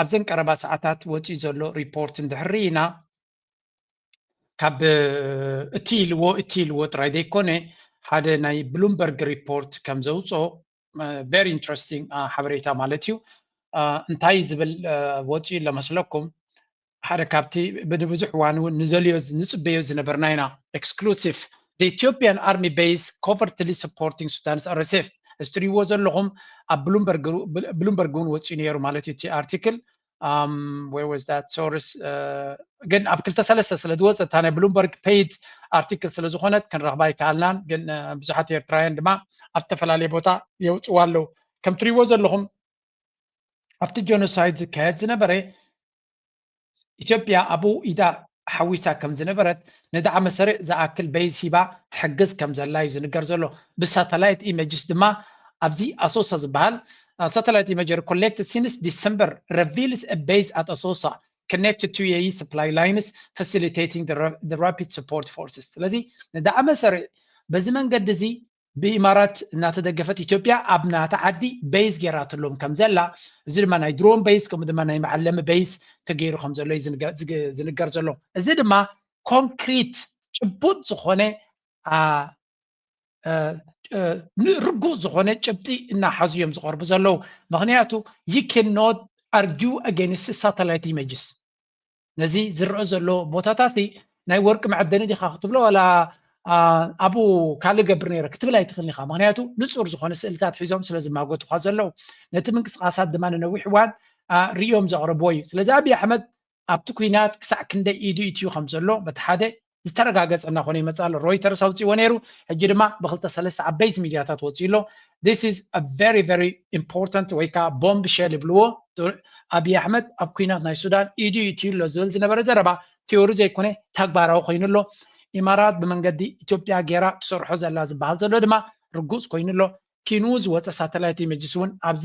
ኣብዘን ቀረባ ሰዓታት ወፂኡ ዘሎ ሪፖርት እንድሕር ርኢና ካብ እቲ ኢልዎ እቲ ኢልዎ ጥራይ ዘይኮነ ሓደ ናይ ብሉምበርግ ሪፖርት ከም ዘውፆ ቨሪ ኢንትረስቲንግ ሓበሬታ ማለት እዩ እንታይ ዝብል ወፂኡ ለመስለኩም ሓደ ካብቲ ብብዙሕ እዋን እውን ንዘልዮ ንፅበዮ ዝነበርና ኢና ኤክስክሉሲቭ The Ethiopian Army Base Covertly Supporting Sudan's RSF እዚ ትሪእዎ ዘለኹም ኣብ ብሉምበርግ ብሉምበርግ እውን ወፂኡ ነይሩ ማለት እዩ እቲ ኣርቲክል um, where was that source uh, ግን ኣብ ክልተ ሰለስተ ስለ ዝወፀ እታ ናይ ብሉምበርግ ፔይድ ኣርቲክል ስለ ዝኾነት ክንረኽባ ኣይከኣልናን ግን እ፣ ብዙሓት ኤርትራውያን ድማ ኣብ ዝተፈላለየ ቦታ የውፅዋ ኣለዉ ከም ትሪእዎ ዘለኹም ኣብቲ ጀኖሳይድ ዝካየድ ዝነበረ ኢትዮጵያ ኣብኡ ኢዳ ሓዊሳ ከም ዝነበረት ንዳዕመ ሰሪዕ ዝኣክል በይዝ ሂባ ትሕግዝ ከም ዘላ እዩ ዝንገር ዘሎ ብሳተላይት ኢመጅስ ድማ ኣብዚ ኣሶሳ ዝበሃል ሳተላይት ኢመጀሪ ኮሌክት ሲንስ ዲሰምበር ረቪልስ በይዝ ኣት ኣሶሳ connected to UAE supply lines facilitating the, the rapid support forces ስለዚ ንዳዕመ ሰሪዕ በዚ መንገዲ እዚ ብኢማራት እናተደገፈት ኢትዮጵያ ኣብ ናታ ዓዲ በይዝ ገይራትሎም ከም ዘላ፣ እዚ ድማ ናይ ድሮን በይዝ ከምኡ ድማ ናይ መዐለሚ በይዝ ተገይሩ ከም ዘሎ እዩ ዝንገር ዘሎ። እዚ ድማ ኮንክሪት ጭቡጥ ዝኾነ ርጉእ ዝኾነ ጭብጢ እናሓዙ እዮም ዝቐርቡ ዘለዉ። ምክንያቱ ዩ ካን ኖት ኣርጊው ኣገይንስት ሳተላይት ኢሜጅስ ነዚ ዝረኣ ዘሎ ቦታታሲ ናይ ወርቂ መዐደኒ ዲኻ ክትብሎ ዋላ ኣብኡ ካልእ ገብር ነይረ ክትብል ኣይትኽእልን ኢኻ ምክንያቱ ንፁር ዝኾነ ስእልታት ሒዞም ስለ ዝማጎቱኻ ዘለዉ ነቲ ምንቅስቃሳት ድማ ንነዊሕ እዋን ርእዮም ዘቕረብዎ እዩ ስለዚ ኣብዪ ኣሕመድ ኣብቲ ኩናት ክሳዕ ክንደይ ኢዱ ኢትዩ ከም ዘሎ በቲ ሓደ ዝተረጋገጸ እናኾነ ይመጽእ ኣሎ። ሮይተርስ ኣውጺእዎ ነይሩ፣ ሕጂ ድማ ብክልተ ሰለስተ ዓበይቲ ሚድያታት ወጺኡ ኣሎ። This is a very very important ወይ ከዓ ቦምብ ሸል ይብልዎ። ኣብይ ኣሕመድ ኣብ ኩናት ናይ ሱዳን ኢዱ ይእትዩ ኣሎ ዝብል ዝነበረ ዘረባ ቲዮሪ ዘይኮነ ተግባራዊ ኮይኑ ኣሎ። ኢማራት ብመንገዲ ኢትዮጵያ ጌራ ትሰርሖ ዘላ ዝበሃል ዘሎ ድማ ርጉጽ ኮይኑ ኣሎ። ኪንኡ ዝወጸ ሳተላይት ኢመጅስ እውን ኣብዚ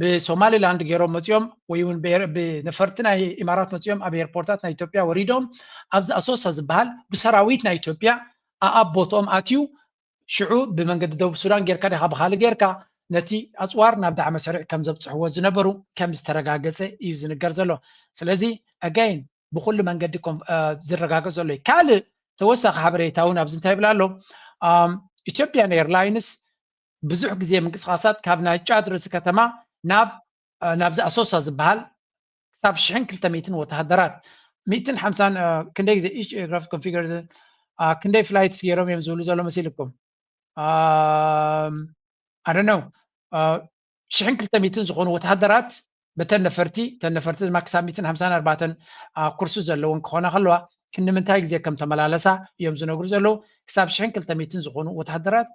ብሶማሊላንድ ገይሮም መፂኦም ወይ እውን ብነፈርቲ ናይ ኢማራት መፂኦም ኣብ ኤርፖርታት ናይ ኢትዮጵያ ወሪዶም ኣብዚ ኣሶሳ ዝበሃል ብሰራዊት ናይ ኢትዮጵያ ኣኣብ ቦትኦም ኣትዩ ሽዑ ብመንገዲ ደቡብ ሱዳን ጌርካ ዲኻ ብካልእ ጌርካ ነቲ ኣፅዋር ናብ ዳዕመ ሰሪዕ ከም ዘብፅሕዎ ዝነበሩ ከም ዝተረጋገፀ እዩ ዝንገር ዘሎ ስለዚ ኣጋይን ብኩሉ መንገዲ ዝረጋገፅ ዘሎ እዩ ካልእ ተወሳኺ ሓበሬታ እውን ኣብዚ እንታይ ይብላ ኣሎ ኢትዮጵያን ኤርላይንስ ብዙሕ ግዜ ምንቅስቃሳት ካብ ናይ ጫድ ርእሲ ከተማ ናብ ናብዚ ኣሶሳ ዝበሃል ክሳብ ሽሕን ክልተ ሚእትን ወተሃደራት ሚእትን ሓምሳን ክንደይ ግዜ ኢች ኤርክራፍት ኮንፊገር ክንደይ ፍላይትስ ገይሮም እዮም ዝብሉ ዘሎ መሲልኩም ኣደነው ሽሕን ክልተ ሚትን ዝኾኑ ወተሃደራት በተን ነፈርቲ እተን ነፈርቲ ድማ ክሳብ ሚትን ሓምሳን ኣርባዕተን ኩርሲ ዘለወን ክኾና ከለዋ ክንምንታይ ግዜ ከም ተመላለሳ እዮም ዝነግሩ ዘለዉ ክሳብ ሽሕን ክልተ ሚትን ዝኾኑ ወተሃደራት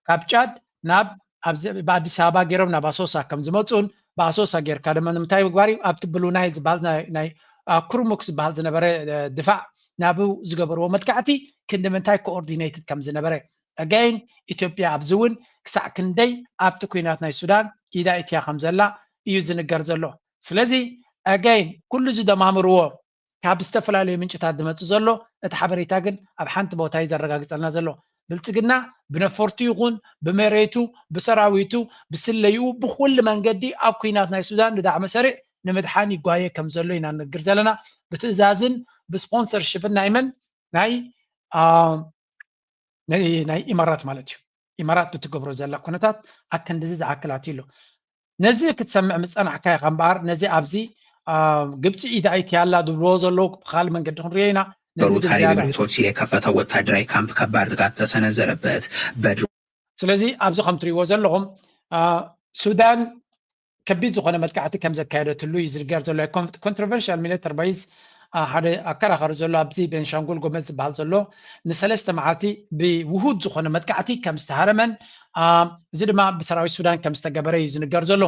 ካብ ጫድ ናብ ብኣዲስ ኣበባ ገይሮም ናብ ኣሶሳ ከም ዝመፁን ብኣሶሳ ጌርካ ድማ ንምንታይ ምግባር እዩ ኣብቲ ብሉ ናይ ዝበሃል ናይ ኩርሙክ ዝበሃል ዝነበረ ድፋዕ ናብ ዝገበርዎ መጥቃዕቲ ክንዲ ምንታይ ኮኦርዲነትድ ከም ዝነበረ ኣገይን ኢትዮጵያ ኣብዚ እውን ክሳዕ ክንደይ ኣብቲ ኲናት ናይ ሱዳን ኢዳ እትያ ከም ዘላ እዩ ዝንገር ዘሎ ስለዚ ኣገይን ኩሉ እዚ ደማምርዎ ካብ ዝተፈላለዩ ምንጭታት ዝመጽእ ዘሎ እቲ ሓበሬታ ግን ኣብ ሓንቲ ቦታ እዩ ዘረጋግጸልና ዘሎ ብልጽግና ብነፈርቱ ይኹን ብመሬቱ ብሰራዊቱ ብስለይኡ ብኩሉ መንገዲ ኣብ ኩናት ናይ ሱዳን ንዳዕመ ሰሪዕ ንምድሓን ይጓየ ከም ዘሎ ኢና ንነግር ዘለና ብትእዛዝን ብስፖንሰርሽፕን ናይ መን ናይ ናይ ኢማራት ማለት እዩ ኢማራት ብትገብሮ ዘላ ኩነታት ኣከንድዚ ዝኣክል ኣትዩ ኣሎ ነዚ ክትሰምዕ ምፀናሕካ ኢኻ እምበኣር ነዚ ኣብዚ ግብፂ ኢድ ኣይቲ ኣላ ዝብልዎ ዘለዉ ብካልእ መንገዲ ክንሪኦ ኢና ነዚ ግን ዝያዳ ቶትሲሌ ከፈተው ወታደራዊ ካምፕ ከባድ ጥቃት ተሰነዘረበት በድሮ ስለዚ ኣብዚ ከም ትሪእዎ ዘለኹም ሱዳን ከቢድ ዝኾነ መጥቃዕቲ ከም ዘካየደትሉ እዩ ዝንገር ዘሎ። ናይ ኮንትሮቨርሻል ሚሊተር ባይዝ ሓደ ኣከራኻሪ ዘሎ ኣብዚ ቤንሻንጉል ጎመዝ ዝበሃል ዘሎ ንሰለስተ መዓልቲ ብውሁድ ዝኾነ መጥቃዕቲ ከም ዝተሃረመን እዚ ድማ ብሰራዊት ሱዳን ከም ዝተገበረ እዩ ዝንገር ዘሎ።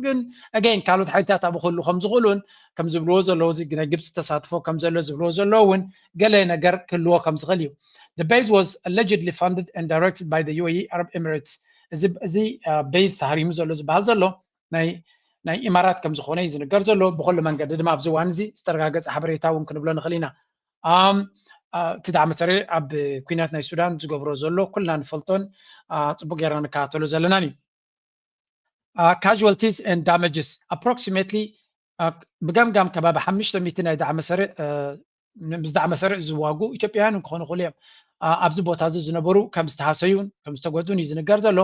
ግን ኣገይን ካልኦት ሓይልታት ኣብኡ ክህሉ ከም ዝኽእሉን ከም ዝብልዎ ዘለዉ እዚ ናይ ግብፂ ተሳትፎ ከም ዘሎ ዝብልዎ ዘለዎ እውን ገለ ነገር ክህልዎ ከም ዝኽእል እዩ The base was allegedly funded and directed by the UAE Arab Emirates እዚ እዚ ቤዝ ተሃሪሙ ዘሎ ዝበሃል ዘሎ ናይ ናይ ኢማራት ከም ዝኾነ እዩ ዝንገር ዘሎ ብኩሉ መንገዲ ድማ ኣብዚ እዋን እዚ ዝተረጋገፀ ሓበሬታ እውን ክንብሎ ንኽእል ኢና እቲ ዳዕ መሰሪ ኣብ ኩናት ናይ ሱዳን ዝገብሮ ዘሎ ኩልና ንፈልጦን ፅቡቅ ጌርና ንከታተሎ ዘለናን እዩ ካዥዋልቲስ ን ዳመጅስ ኣፕሮክሲሜትሊ ብገምጋም ከባቢ ሓምሽተ ሚእቲ ናይ ዳዕመሰሪዕ ምስ ዳዕመሰሪዕ ዝዋጉ ኢትዮጵያውያን ክኾኑ ይኽእሉ እዮም ኣብዚ ቦታ እዚ ዝነበሩ ከም ዝተሃሰዩን ከም ዝተጎዱን እዩ ዝንገር ዘሎ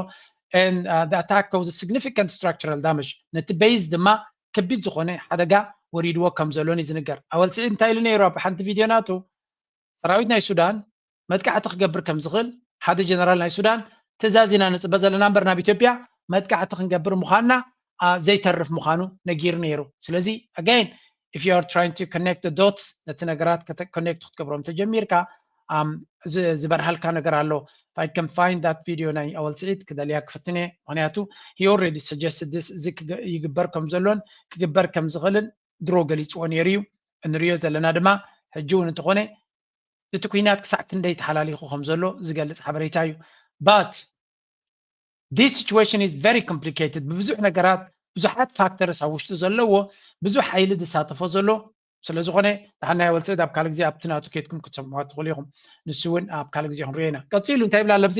and uh, the attack causes significant structural damage ነቲ ቤዝ ድማ ከቢድ ዝኾነ ሓደጋ ወሪድዎ ከም ዘሎን እዩ ዝንገር ኣወል ስዒድ እንታይ ኢሉ ነይሩ ኣብ ሓንቲ ቪድዮ ናቱ ሰራዊት ናይ ሱዳን መጥቃዕቲ ክገብር ከም ዝኽእል ሓደ ጀነራል ናይ ሱዳን ትእዛዝ ኢና ንጽበ ዘለና እምበር ናብ ኢትዮጵያ መጥቃዕቲ ክንገብር ምዃንና ዘይተርፍ ምዃኑ ነጊሩ ነይሩ ስለዚ ኣጋይን if you are trying to connect the dots ነቲ ነገራት ኮኔክት ክትገብሮም ተጀሚርካ ዝበርሃልካ ነገር ኣሎ if i can find that video ናይ ኣወል ስዒድ ክደልያ ክፍትነ ምክንያቱ he already suggested this እዚ ይግበር ከም ዘሎን ክግበር ከም ዝኽእልን ድሮ ገሊጽዎ ኔሩ እዩ እንርእዮ ዘለና ድማ ሕጂ ውን እንተኾነ እቲ ኩናት ክሳዕ ክንደይ ተሓላሊኹ ከም ዘሎ ዝገልጽ ሓበሬታ እዩ but this situation is very complicated ብብዙሕ ነገራት ብዙሓት ፋክተርስ ኣብ ውሽጡ ዘለዎ ብዙሕ ሓይሊ ዝሳተፎ ዘሎ ስለ ዝኾነ ተሓናዮ ወልጽእት ኣብ ካልእ ግዜ ኣብቲ ናቱ ኬድኩም ክትሰምዑዋ ትኽእሉ ኢኹም ንሱ እውን ኣብ ካልእ ግዜ ክንሪኦ ኢና ቀጺሉ እንታይ ይብል ኣለብዚ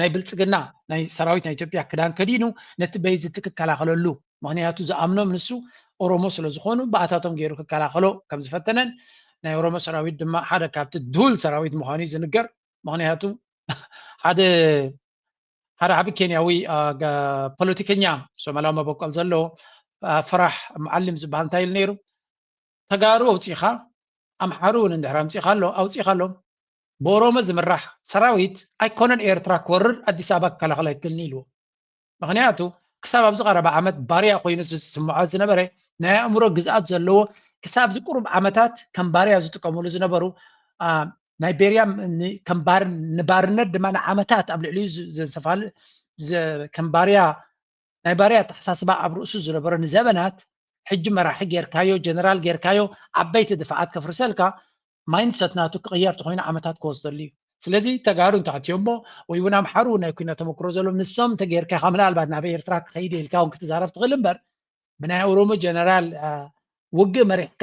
ናይ ብልፅግና ናይ ሰራዊት ናይ ኢትዮጵያ ክዳን ከዲኑ ነቲ በይዚ እቲ ክከላኸለሉ ምክንያቱ ዝኣምኖም ንሱ ኦሮሞ ስለ ዝኾኑ ብኣታቶም ገይሩ ክከላኸሎ ከም ዝፈተነን ናይ ኦሮሞ ሰራዊት ድማ ሓደ ካብቲ ድሁል ሰራዊት ምዃኑ እዩ ዝንገር ምክንያቱ ሓደ ሓደ ዓቢ ኬንያዊ ፖለቲከኛ ሶማላዊ መበቆል ዘለዎ ፈራሕ መዓሊም ዝበሃል እንታይ ኢሉ ነይሩ ተጋሩ ኣውጺእኻ ኣምሓሩ ውን እንድሕር ኣምጺእኻሎም ኣውጺእኻሎም ብኦሮሞ ዝምራሕ ሰራዊት ኣይኮነን ኤርትራ ክወርር ኣዲስ ኣበባ ክከላኸል ኣይክእልን ኢልዎ ምክንያቱ ክሳብ ኣብዚ ቀረባ ዓመት ባርያ ኮይኑ ዝስምዖ ዝነበረ ናይ ኣእምሮ ግዝኣት ዘለዎ ክሳብ እዚ ቁሩብ ዓመታት ከም ባርያ ዝጥቀምሉ ዝነበሩ ናይ ቤርያ ከም ንባርነት ድማ ንዓመታት ኣብ ልዕሊኡ ዘንሰፋል ከም ባርያ ናይ ባርያ ኣተሓሳስባ ኣብ ርእሱ ዝነበሮ ንዘበናት ሕጂ መራሒ ጌርካዮ ጀነራል ጌርካዮ ዓበይቲ ድፋዓት ከፍርሰልካ ማይንድ ሰት ናቱ ክቕየር ተኾይኑ ዓመታት ክወስደሉ እዩ ስለዚ ተጋሩ እንተኣትዮሞ ወይ እውን ኣምሓሩ ናይ ኩናት ተመክሮ ዘለዎም ንሶም እንተጌርካኻ ምናልባት ናብ ኤርትራ ክኸይድ ኢልካ እውን ክትዛረብ ትኽእል እምበር ብናይ ኦሮሞ ጀነራል ውግእ መሪሕካ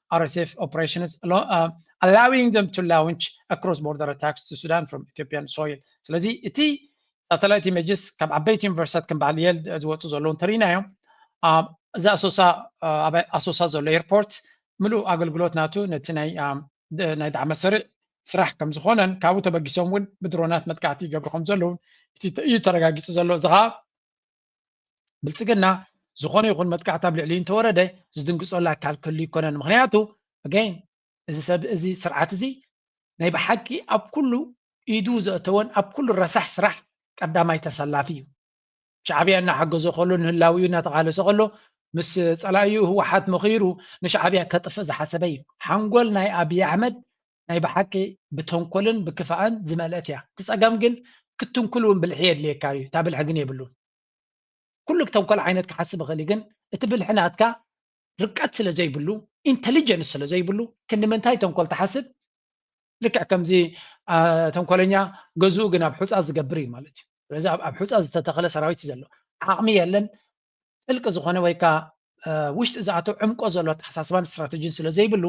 RSF operations allo- uh, allowing them to launch a cross-border attacks to Sudan from Ethiopian soil ስለዚ እቲ ሳተላይት ኢሜጅስ ካብ ዓበይቲ ዩኒቨርሲታት ከም በዓል የል ዝወፁ ዘለዉ እንተሪኢና እዮም ኣብ እዚ ኣሶሳ uh, ኣብ ኣሶሳ ዘሎ ኤርፖርት ምሉእ ኣገልግሎት ናቱ ነቲ ናይ um, ደ- ናይ ዳዕመ ሰሪዕ ስራሕ ከም ዝኾነን ካብኡ ተበጊሶም እውን ብድሮናት መጥቃዕቲ ይገብሩ ከም ዘለውን እቲ ተ- እዩ ተረጋጊፁ ዘሎ እዚ ከዓ ብልፅግና ዝኾነ ይኹን መጥቃዕቲ ኣብ ልዕሊኡ እንተወረደ ዝድንግፀሉ ኣካል ክህሉ ይኮነን ምክንያቱ ኣገይን እዚ ሰብ እዚ ስርዓት እዚ ናይ ብሓቂ ኣብ ኩሉ ኢዱ ዘእተወን ኣብ ኩሉ ረሳሕ ስራሕ ቀዳማይ ተሰላፊ እዩ ሻዕብያ እናሓገዞ ከሎ ንህላዊኡ እናተቓለሰ ከሎ ምስ ፀላኢኡ ህወሓት መኺሩ ንሻዕብያ ከጥፍእ ዝሓሰበ እዩ ሓንጎል ናይ ኣብዪ ኣሕመድ ናይ ብሓቂ ብተንኮልን ብክፋእን ዝመልአት እያ እቲ ጸገም ግን ክትንኩል እውን ብልሒ የድልየካ እዩ እታ ብልሒ ግን የብሉን ኩሉ ተንኮል ዓይነት ክሓስብ ይኽእል ግን እቲ ብልሒ ናትካ ርቀት ስለ ዘይብሉ ኢንተሊጀንስ ስለ ዘይብሉ ክንምንታይ ተንኮል ትሓስብ ልክዕ ከምዚ ተንኮለኛ ገዝኡ ግን ኣብ ሑፃ ዝገብር እዩ ማለት እዩ ስለዚ ኣብ ሑፃ ዝተተኸለ ሰራዊት እዩ ዘሎ ዓቕሚ የለን ጥልቂ ዝኾነ ወይ ከዓ ውሽጢ ዝኣተው ዕምቆ ዘሎ ኣተሓሳስባን ስትራቴጂን ስለ ዘይብሉ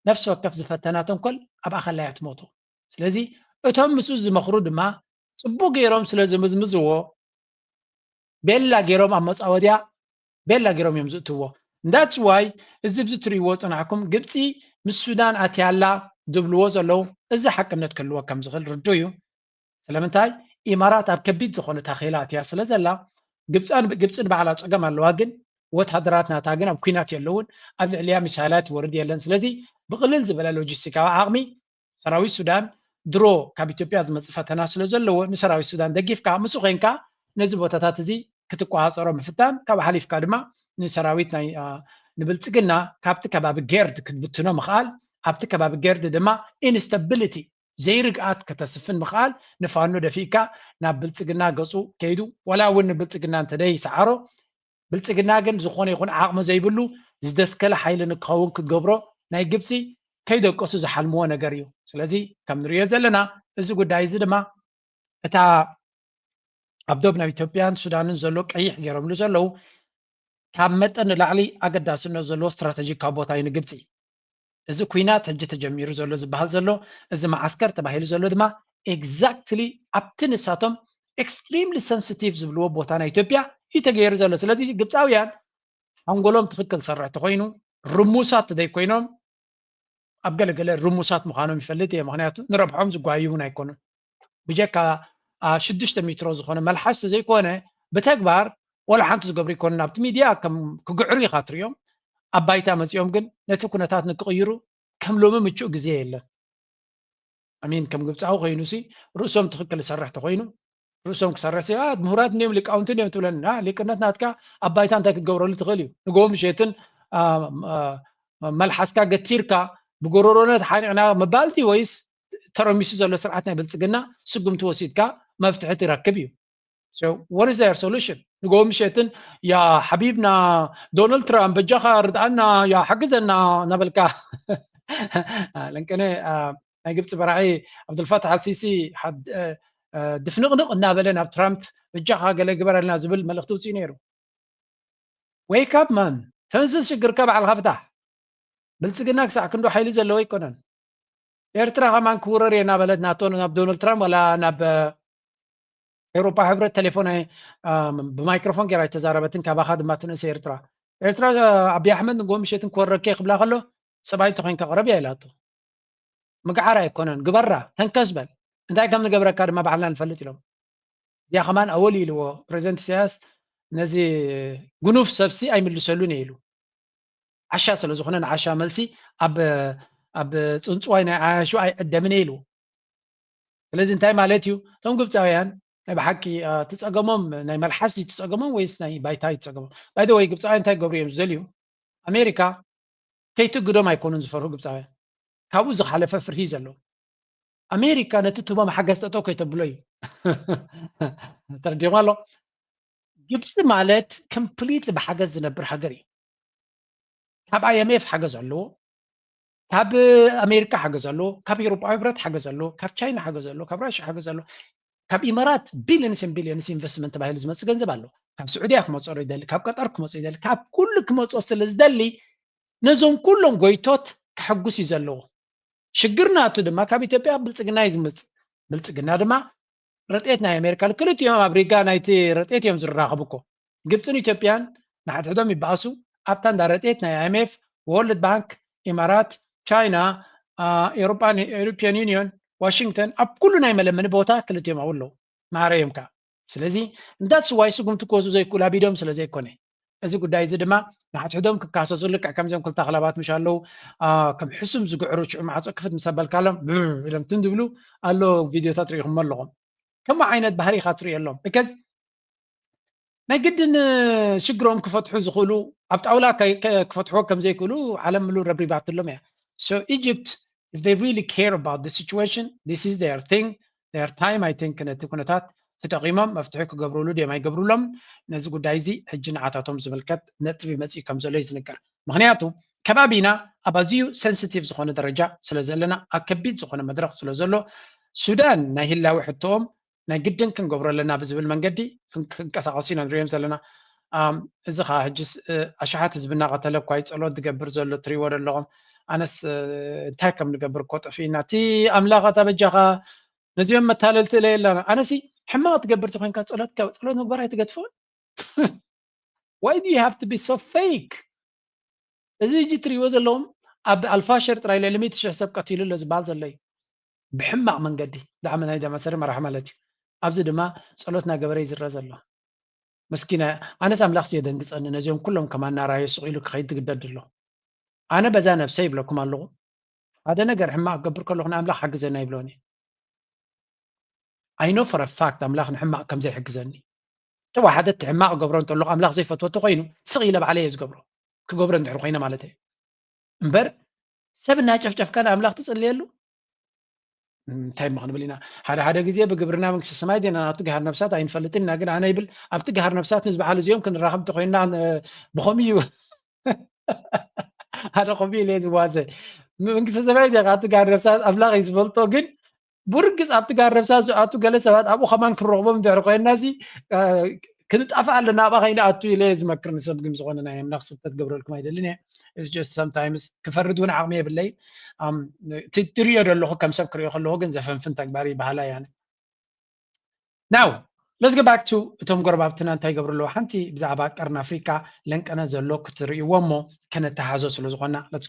ነፍሲ ወከፍ ዝፈተና ተንኮል ኣብ ኣኸላያ ትሞቱ። ስለዚ እቶም ምስኡ ዝመኽሩ ድማ ጽቡቕ ገይሮም ስለ ዝምዝምዝዎ ቤላ ገይሮም ኣብ መጻወድያ ቤላ ገይሮም እዮም ዝእትዎ። እንዳትስ ዋይ እዚ ብዚ ትርእይዎ ዝጸናሕኩም ግብጺ ምስ ሱዳን ኣትያ ኣላ ዝብልዎ ዘለዉ እዚ ሓቅነት ክህልዎ ከም ዝኽእል ርዱእ እዩ። ስለምንታይ ኢማራት ኣብ ከቢድ ዝኾነ ታኼላ ኣትያ ስለ ዘላ ግብጻን ግብጺ ንባዕላ ጸገም ኣለዋ ግን ወተሃደራት ናታ ግን ኣብ ኩናት የለውን ኣብ ልዕሊያ ሚሳይላት ይወርድ የለን ስለዚ ብቕልል ዝበለ ሎጂስቲካዊ ዓቕሚ ሰራዊት ሱዳን ድሮ ካብ ኢትዮጵያ ዝመጽእ ፈተና ስለ ዘለዎ ንሰራዊት ሱዳን ደጊፍካ ምስ ኮንካ ነዚ ቦታታት እዚ ክትቆፃፀሮ ምፍታን ካብ ሓሊፍካ ድማ ንሰራዊት ናይ ንብልፅግና ካብቲ ከባቢ ጌርድ ክትብትኖ ምኽኣል ኣብቲ ከባቢ ጌርድ ድማ ኢንስታቢሊቲ ዘይርግኣት ከተስፍን ምኽኣል ንፋኖ ደፊእካ ናብ ብልፅግና ገፁ ከይዱ ዋላ እውን ንብልፅግና እንተደይሰዓሮ ብልፅግና ግን ዝኾነ ይኹን ዓቕሚ ዘይብሉ ዝደስከለ ሓይሊ ንክኸውን ክገብሮ ናይ ግብፂ ከይደቀሱ ዝሓልምዎ ነገር እዩ ስለዚ ከም ንሪኦ ዘለና እዚ ጉዳይ እዚ ድማ እታ ኣብ ዶብ ናብ ኢትዮጵያን ሱዳንን ዘሎ ቀይሕ ገይሮምሉ ዘለዉ ካብ መጠን ንላዕሊ ኣገዳስነት ዘለዎ ስትራተጂካዊ ቦታ እዩ ንግብፂ እዚ ኩናት ሕጂ ተጀሚሩ ዘሎ ዝበሃል ዘሎ እዚ መዓስከር ተባሂሉ ዘሎ ድማ ኤግዛክትሊ ኣብቲ ንሳቶም ኤክስትሪምሊ ሰንስቲቭ ዝብልዎ ቦታ ናይ ኢትዮጵያ እዩ ተገይሩ ዘሎ ስለዚ ግብፃውያን ሓንጎሎም ትኽክል ዝሰርሕ ተኮይኑ ርሙሳት ዘይኮይኖም ኣብ ገለገለ ርሙሳት ምዃኖም ይፈልጥ እየ ምክንያቱ ንረብሖም ዝጓዩ እውን ኣይኮኑን ብጀካ ኣብ ሽዱሽተ ሚትሮ ዝኾነ መልሓስ ተዘይኮነ ብተግባር ወላ ሓንቲ ዝገብሩ ይኮኑን ኣብቲ ሚድያ ከም ክግዕሩ ኢኻ ትሪኦም ኣብ ባይታ መፂኦም ግን ነቲ ኩነታት ንክቕይሩ ከም ሎሚ ምቹእ ግዜ የለን ኣሚን ከም ግብፃዊ ኮይኑ ሲ ርእሶም ትክክል ዝሰርሕ ተኮይኑ ርእሶም ክሰርሕ ሲ ምሁራት እንዲዮም ሊቃውንቲ እንዲዮም ትብለና ሊቅነት ናትካ ኣብ ባይታ እንታይ ክትገብረሉ ትኽእል እዩ ንጎ ምሸትን መልሓስካ ገቲርካ ብጎረሮነት ሓኒዕና ምባልቲ ወይስ ተረሚሱ ዘሎ ስርዓት ናይ ብልፅግና ስጉምቲ ወሲድካ መፍትሒ ትረክብ እዩ what is their solution ንጎ ምሸትን ያ ሓቢብና ዶናልድ ትራምፕ በጃኻ ርድኣና ያ ሓግዘና እናበልካ ለንቅነ ናይ ግብፂ በራዒ ዓብዱልፋታሕ ኣልሲሲ ድፍንቕንቕ እናበለ ናብ ትራምፕ በጃኻ ገለ ግበረልና ዝብል መልእኽቲ ውፅኡ ነይሩ ዌይክ ኣፕ ማን ተንስስ ሽግርካ በዓልካ ፍታሕ ብልፅግና ክሳዕ ክንዶ ሓይሊ ዘለዎ ኣይኮነን ኤርትራ ከማን ክውረር እየ እናበለት ናቶ ናብ ዶናልድ ትራምፕ ዋላ ናብ ኤውሮፓ ሕብረት ቴሌፎን ብማይክሮፎን ጌራ ኣይተዛረበትን ካባኻ ድማ ትንእሰ ኤርትራ ኤርትራ ኣቢ ኣሕመድ ንጎ ምሸትን ክወረከ ክብላ ከሎ ሰብኣይ እንተኮይንካ ቅረብ እያ ኢላቶ ምግዓር ኣይኮነን ግበራ ተንከስ በል እንታይ ከም ንገብረካ ድማ ባዕልና ንፈልጥ ኢሎም እዚያ ከማን ኣወል ኢልዎ ፕሬዚደንት ኢሳያስ ነዚ ጉኑፍ ሰብሲ ኣይምልሰሉን እየ ኢሉ ዓሻ ስለ ዝኾነ ንዓሻ መልሲ ኣብ ኣብ ፅንፅዋይ ናይ ዓያሹ ኣይዕደምን እየ ኢልዎ ስለዚ እንታይ ማለት እዩ እቶም ግብፃውያን ናይ ብሓቂ ትፀገሞም ናይ መልሓስ እዩ ትፀገሞም ወይስ ናይ ባይታ እዩ ትፀገሞም ባይደ ወይ ግብፃውያን እንታይ ገብሩ እዮም ዝደልዩ ኣሜሪካ ከይትግዶም ኣይኮኑን ዝፈርሁ ግብፃውያን ካብኡ ዝሓለፈ ፍርሂ እዩ ዘለዎም ኣሜሪካ ነቲ ትህቦም ሓገዝ ጠጠው ከይተብሎ እዩ ተረዲኹም ኣሎ ግብፂ ማለት ኮምፕሊትሊ ብሓገዝ ዝነብር ሃገር እዩ። ካብ ኣይኤምኤፍ ሓገዝ ኣለዎ፣ ካብ ኣሜሪካ ሓገዝ ኣለዎ፣ ካብ ኤውሮጳዊ ሕብረት ሓገዝ ኣለዎ፣ ካብ ቻይና ሓገዝ ኣለዎ፣ ካብ ራሻ ሓገዝ ኣለዎ፣ ካብ ኢማራት ቢልዮንስን ቢልዮንስ ኢንቨስትመንት ተባሂሉ ዝመፅ ገንዘብ ኣሎ። ካብ ስዑድያ ክመፆ ይደሊ፣ ካብ ቀጠር ክመፆ ይደሊ፣ ካብ ኩሉ ክመፆ ስለ ዝደሊ ነዞም ኩሎም ጎይቶት ከሐጉስ እዩ ዘለዎ። ሽግር ናቱ ድማ ካብ ኢትዮጵያ ብልፅግና እዩ ዝምፅ። ብልፅግና ድማ ረጤት ናይ ኣሜሪካ ክልቲኦም ኣብ ሪጋ ናይቲ ረጤት እዮም ዝራኸቡ እኮ ግብፅን ኢትዮጵያን ንሓድሕዶም ይበኣሱ ኣብታ እንዳ ረጤት ናይ ኣይምኤፍ ወርልድ ባንክ ኢማራት ቻይና ኤሮፓን ኤሮፒያን ዩኒዮን ዋሽንግተን ኣብ ኩሉ ናይ መለመኒ ቦታ ክልቲኦም ኣብኡ ኣለዉ ማዕረ እዮም ከዓ ስለዚ እንዳስዋይ ስጉምቲ ክወስዱ ዘይክእሉ ኣቢዶም ስለ ዘይኮነ እዚ ጉዳይ እዚ ድማ ንሓድሕዶም ክካሰሱ ልክዕ ከምዚኦም ክልተ ኣኽላባት ምሽ ኣለዉ ከም ሕሱም ዝግዕሩ ሽዑ ማዕፆ ክፍት ምስ ኣበልካሎም ኢሎም ትን ዝብሉ ኣሎ ቪድዮታት ርኢኹሞ ኣለኹም ከምኡ ዓይነት ባህሪ ኢኻ ትርእየሎም እከዝ ናይ ግድን ሽግሮም ክፈትሑ ዝኽእሉ ኣብ ጣውላ ክፈትሕዎ ከም ዘይክእሉ ዓለም ምሉ ረብሪባትሎም እያ so egypt if they really care about the situation this is their thing their time I think ነቲ ኩነታት ትጠቂሞም መፍትሒ ክገብሩሉ ድዮም ኣይገብሩሎምን ነዚ ጉዳይ እዚ ሕጂ ንዓታቶም ዝምልከት ነጥቢ መጺኡ ከም ዘሎ እዩ ዝንገር ምክንያቱ ከባቢና ኣብ ኣዝዩ ሰንስቲቭ ዝኾነ ደረጃ ስለ ዘለና ኣብ ከቢድ ዝኾነ መድረኽ ስለ ዘሎ ሱዳን ናይ ህላዊ ሕቶኦም ናይ ግድን ክንገብሮ ኣለና ብዝብል መንገዲ ክንቀሳቀሱ ኢና ንሪኦም ዘለና ኣም እዚ ከኣ ሕጅስ ኣሽሓት ህዝቢ እናቀተለ እኳ እዩ ጸሎት ዝገብር ዘሎ ትሪእዎ ዶ ኣለኹም ኣነስ እንታይ ከም ንገብር እኮ ጠፊእና እቲ ኣምላኽ ኣታ በጃኻ ነዚኦም መታለልቲ እለ የላና ኣነሲ ሕማቅ ትገብርቲ ኮንካ ጸሎት ጸሎት ምግባር ኣይትገድፎን ዋይ ዱ ሃቭ ቱ ቢ ሶ ፌክ እዚ እጂ ትሪእዎ ዘለዎም ኣብ ኣልፋሸር ጥራይ ልዕሊ ሚእቲ ሽሕ ሰብ ቀቲሉ ኣሎ ዝበሃል ዘሎ እዩ ብሕማቅ መንገዲ ብዛዕባ ናይ ዳማሰሪ መራሕ ማለት እዩ ኣብዚ ድማ ጸሎት ናገበረ ይዝረ ዘሎ መስኪና እያ ኣነስ ኣምላክሲ የደንግፀኒ ነዚኦም ኩሎም ከማና ራዮ ስቅ ኢሉ ክከይድ ትግደድ ኣሎ ኣነ በዛ ነብሰይ ይብለኩም ኣለኩ ሓደ ነገር ሕማቅ ክገብር ከለኩ ንኣምላክ ሓግዘና ይብሎን እየ ኣይኖ ፎረ ፋክት ኣምላክ ንሕማቅ ከምዘይሕግዘኒ ጥዋ ሓደ እቲ ሕማቅ ገብሮ እንተለኩ ኣምላክ ዘይፈትወ ተኮይኑ ስቅ ኢለ ባዕለይ እየ ዝገብሮ ክገብሮ እንድሕር ኮይነ ማለት እየ እምበር ሰብ እናጨፍጨፍካ ንኣምላክ ትፅልየሉ እንታይ እሞ ክንብል ኢና ሓደ ሓደ ግዜ ብግብርና መንግስቲ ሰማይ ዲና ናብቲ ገሃር ነብሳት ኣይንፈልጥን ኢና ግን ኣነ ይብል ኣብቲ ገሃር ነብሳት ምስ በዓል እዚኦም ክንራኸብ እንተኮይንና ብከምኡ እዩ ሓደ ከምኡ ኢለ ዝዋዘ መንግስቲ ሰማይ ዲኻ ኣብቲ ገሃር ነብሳት ኣምላኽ እዩ ዝፈልጦ ግን ብርግፅ ኣብቲ ገሃር ነብሳት ዝኣቱ ገለ ሰባት ኣብኡ ከማን ክንረኽቦም ድሕሪ ኮይንና እዚ ክንጣፋ ኣለና ኣብኣ ከይንኣቱ ኢለ ዝመክር ንሰብ ግን ዝኾነ ናይ ኣምላኽ ስብከት ገብረልኩም ኣይደልን እየ እዚ ጀስት ሰምታይምስ ክፈርድ እውን ዓቕሚ የብለይ እቲ ትሪዮ ዘለኹ ከም ሰብ ክሪኦ ከለኹ ግን ዘፈንፍን ተግባር ይበሃላ እያ ናው ለስ ገባክ ቱ እቶም ጎረባብትና እንታይ ይገብሩ ኣለዉ ሓንቲ ብዛዕባ ቀርኒ ኣፍሪካ ለንቀነ ዘሎ ክትርእይዎ እሞ ከነተሓዞ ስለ ዝኾና ለትስ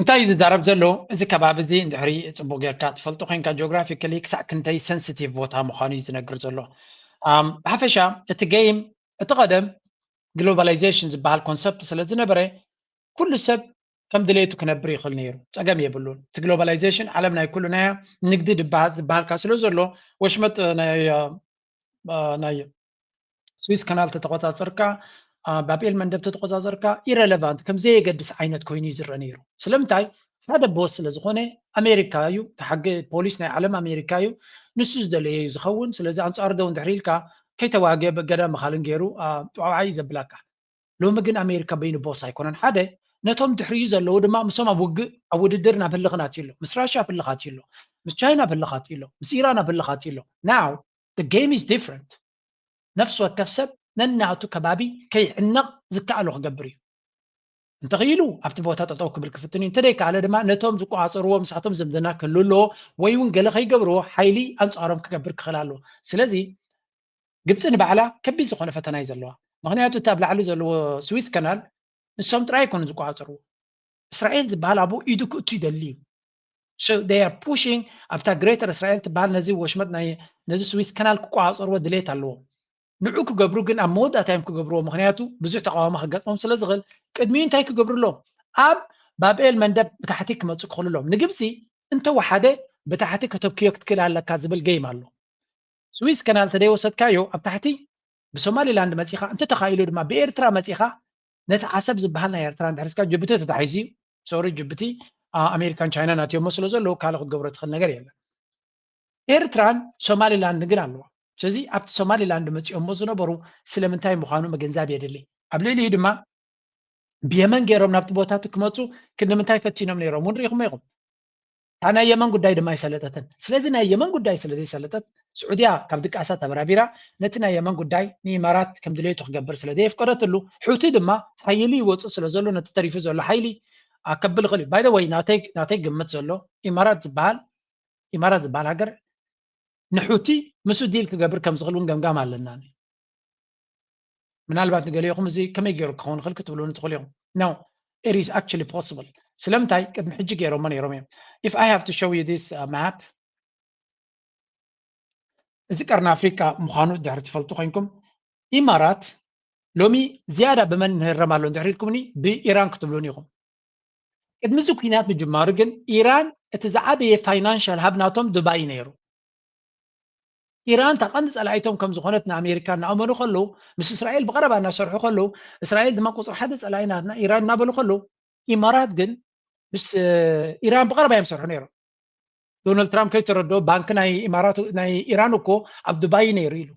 እንታይ እዩ ዝዛረብ ዘሎ እዚ ከባቢ እዚ እንድሕሪ ፅቡቅ ጌርካ ትፈልጦ ኮይንካ ጂኦግራፊካሊ ክሳዕ ክንደይ ሰንሲቲቭ ቦታ ምዃኑ እዩ ዝነግር ዘሎ ብሓፈሻ እቲ ገይም እቲ ቀደም ግሎባላይዜሽን ዝበሃል ኮንሰፕት ስለ ዝነበረ ኩሉ ሰብ ከም ድሌቱ ክነብር ይኽእል ነይሩ ፀገም የብሉን እቲ ግሎባላይዜሽን ዓለም ናይ ኩሉ ናይ ንግዲ ዝበሃልካ ስለ ዘሎ ወሽመጥ ናይ ናይ ስዊስ ካናል ተተቆፃፀርካ ባብኤል መንደብ ተተቆፃፀርካ ኢረለቫንት ከም ዘየገድስ ዓይነት ኮይኑ እዩ ዝረአ ነይሩ ስለምንታይ ሓደ ቦስ ስለ ዝኾነ ኣሜሪካ እዩ ተሓገ ፖሊስ ናይ ዓለም ኣሜሪካ እዩ ንሱ ዝደለየ እዩ ዝኸውን ስለዚ ኣንፃሩ ደው እንድሕር ኢልካ ከይተዋገ በገዳ መኻልን ገይሩ ጨዋዓ እዩ ዘብላካ ሎሚ ግን ኣሜሪካ በይኑ ቦስ ኣይኮነን ሓደ ነቶም ድሕሪኡ ዘለዉ ድማ ምሶም ኣብ ውግእ ኣብ ውድድር ናብ ህልኽናት እዩ ኣሎ ምስ ራሽያ ኣብ ህልኻት እዩ ኣሎ ምስ ቻይና ኣብ ህልኻት እዩ ኣሎ ምስ ኢራን ኣብ ህልኻት እዩ ኣሎ ናው the game is different ነፍሲ ወከፍ ሰብ ነናቱ ከባቢ ከይዕነቕ ዝከኣሎ ክገብር እዩ። እንተኽኢሉ ኣብቲ ቦታ ጠጠው ክብል ክፍትን እዩ። እንተደይከኣለ ድማ ነቶም ዝቆፃፀርዎ ምሳቶም ዝምድና ክህሉ ኣለዎ ወይ እውን ገለ ከይገብርዎ ሓይሊ ኣንፃሮም ክገብር ክኽእል ኣለዎ። ስለዚ ግብፂ ንባዕላ ከቢድ ዝኾነ ፈተና እዩ ዘለዋ። ምክንያቱ እቲ ኣብ ላዕሊ ዘለዎ ስዊስ ከናል ንሶም ጥራይ ኣይኮኑ ዝቆፃፀርዎ። እስራኤል ዝበሃል ኣብኡ ኢዱ ክእቱ ይደሊ እዩ። so they are pushing ኣብታ ግሬተር እስራኤል ትበሃል ነዚ ወሽመጥ ናይ ነዚ ስዊስ ከናል ክቆፃፀርዎ ድሌት ኣለዎም ንዑ ክገብሩ ግን ኣብ መወዳእታ እዮም ክገብርዎ ምክንያቱ ብዙሕ ተቃዋሚ ክገጥሞም ስለ ዝኽእል ቅድሚኡ እንታይ ክገብሩ ኣለዎም ኣብ ባብኤል መንደብ ብታሕቲ ክመፁ ክኽእሉ ኣለዎም ንግብፂ እንተወሓደ ብታሕቲ ከተብክዮ ክትክእል ኣለካ ዝብል ገይም ኣሎ ስዊስ ከናል ተደይወሰድካዮ ኣብ ታሕቲ ብሶማሊላንድ መፂኻ እንተተኻኢሉ ድማ ብኤርትራ መፂኻ ነቲ ዓሰብ ዝብሃል ናይ ኤርትራ እንድሕር እስካ ጅቡቲ ተታሒዙ እዩ ሶሪ ጅቡቲ ኣሜሪካን ቻይናን ኣትዮሞ ስለ ዘለዉ ካልእ ክትገብሮ ትኽእል ነገር የለን ኤርትራን ሶማሊ ላንድን ግን ኣለዋ ስለዚ ኣብቲ ሶማሊ ላንድ መፂኦሞ ዝነበሩ ስለምንታይ ምዃኑ ምግንዛብ የድሊ ኣብ ልዕሊኡ ድማ ብየመን ገይሮም ናብቲ ቦታ እቲ ክመፁ ክንዲ ምንታይ ፈቲኖም ነይሮም እውን ርኢኹሞ ኢኹም እታ ናይ የመን ጉዳይ ድማ ኣይሰለጠትን። ስለዚ ናይ የመን ጉዳይ ስለ ዘይሰለጠት ስዑድያ ካብ ድቃሳ ተበራቢራ ነቲ ናይ የመን ጉዳይ ንኢማራት ከም ድሌቱ ክገብር ስለ ዘየፍቀደትሉ ሑቲ ድማ ሓይሊ ይወጽእ ስለ ዘሎ ነቲ ተሪፉ ዘሎ ሓይሊ ኣከብል ይኽእል እዩ። ባይ ዘ ወይ ናተይ ናተይ ግምት ዘሎ ኢማራት ዝበሃል ኢማራት ዝበሃል ሃገር ንሑቲ ምስ ዲል ክገብር ከም ዝኽእል እውን ገምጋም ኣለና። ምናልባት ንገሊኡኹም እዚ ከመይ ገይሩ ክኸውን ይኽእል ክትብሉኒ ትኽእሉ ኢኹም። No, it is actually possible. ስለምንታይ ቅድሚ ሕጂ ገይሮሞ ነይሮም እዮም። If I have to show you this uh, map እዚ ቀርኒ ኣፍሪቃ ምዃኑ ድሕሪ ትፈልጡ ኮንኩም ኢማራት ሎሚ ዝያዳ ብመን ንህረም ኣሎ እንድሕር ኢልኩምኒ ብኢራን ክትብሉን ኢኹም ቅድሚ እዚ ኩናት ምጅማሩ ግን ኢራን እቲ ዝዓበየ ፋይናንሻል ሃብ ናቶም ዱባይ ነይሩ ኢራን እታ ቀንዲ ጸላኢቶም ከም ዝኾነት ንኣሜሪካ እናኣመኑ ከለዉ ምስ እስራኤል ብቐረባ እናሰርሑ ከለዉ እስራኤል ድማ ቁፅሪ ሓደ ጸላኢ ናትና ኢራን እናበሉ ከለዉ ኢማራት ግን ምስ ኢራን ብቐረባ እዮም ሰርሑ ነይሮም ዶናልድ ትራምፕ ከይተረድኦ ባንኪ ናይ ኢማራት ናይ ኢራን እኮ ኣብ ዱባይ ነይሩ ኢሉ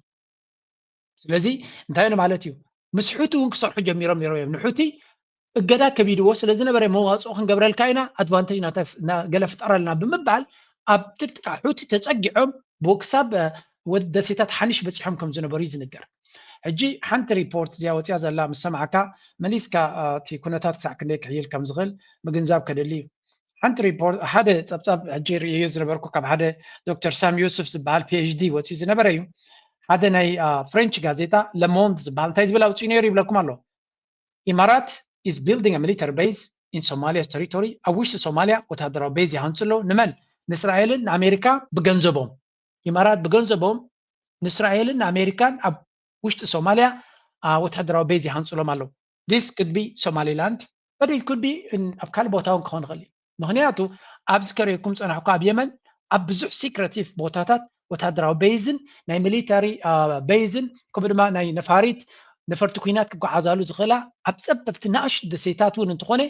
ስለዚ እንታይ ነ ማለት እዩ ምስ ሑቲ እውን ክሰርሑ ጀሚሮም ነይሮም እዮም ንሑቲ እገዳ ከቢድዎ ስለዝነበረ መዋፅኦ ክንገብረልካ ኢና ኣድቫንቴጅ ገለ ፍጠረልና ብምባል ኣብ ጥቅጥቃ ሑቲ ተፀጊዖም ክሳብ ወዲ ደሴታት ሓኒሽ በፂሖም ከም ዝነበሩ እዩ ዝንገር ሕጂ ሓንቲ ሪፖርት እዚኣ ወፅያ ዘላ ምስ ሰማዕካ መሊስካ እቲ ኩነታት ክሳዕ ክንደይ ክሕይል ከም ዝኽእል ምግንዛብ ከደሊ እዩ ሓንቲ ሪፖርት ሓደ ፀብፃብ ሕጂ ርእዮ ዝነበርኩ ካብ ሓደ ዶክተር ሳም ዮሱፍ ዝበሃል ፒኤችዲ ወፅዩ ዝነበረ እዩ ሓደ ናይ ፍሬንች ጋዜጣ ለሞንድ ዝበሃል እንታይ ዝብል ኣውፅኡ ነይሩ ይብለኩም ኣሎ ኢማራት ኢዝ ቢልዲንግ ሚሊተሪ ቤዝ ኢን ሶማሊያስ ተሪቶሪ ኣብ ውሽጢ ሶማሊያ ወታደራዊ ቤዝ ይሃንፁ ኣሎ ንመን ንእስራኤልን ንኣሜሪካ ብገንዘቦም ኢማራት ብገንዘቦም ንእስራኤልን ንኣሜሪካን ኣብ ውሽጢ ሶማሊያ ወታደራዊ ቤዝ ይሃንፁሎም ኣለዉ ዚስ ክድ ቢ ሶማሊላንድ በት ኢት ክድ ቢ ኣብ ካልእ ቦታ እውን ክኾን ይኽእል እዩ ምኽንያቱ ኣብዚ ከሪርኩም ዝፀናሕኩ ኣብ የመን ኣብ ብዙሕ ሲክረቲቭ ቦታታት ወታደራዊ በይዝን ናይ ሚሊታሪ በይዝን ከምኡ ድማ ናይ ነፋሪት ነፈርቲ ኩናት ክጓዓዛሉ ዝኽእላ ኣብ ፀበብቲ ናእሽቱ ደሴታት እውን እንትኾነ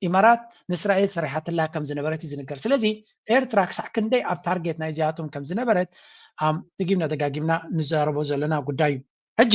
ኢማራት ንእስራኤል ሰሪሓትላ ከም ዝነበረት እዩ ዝንገር ስለዚ ኤርትራ ክሳዕ ክንደይ ኣብ ታርጌት ናይ እዚኣቶም ከም ዝነበረት ደጊምና ደጋጊምና ንዛረቦ ዘለና ጉዳይ እዩ ሕጂ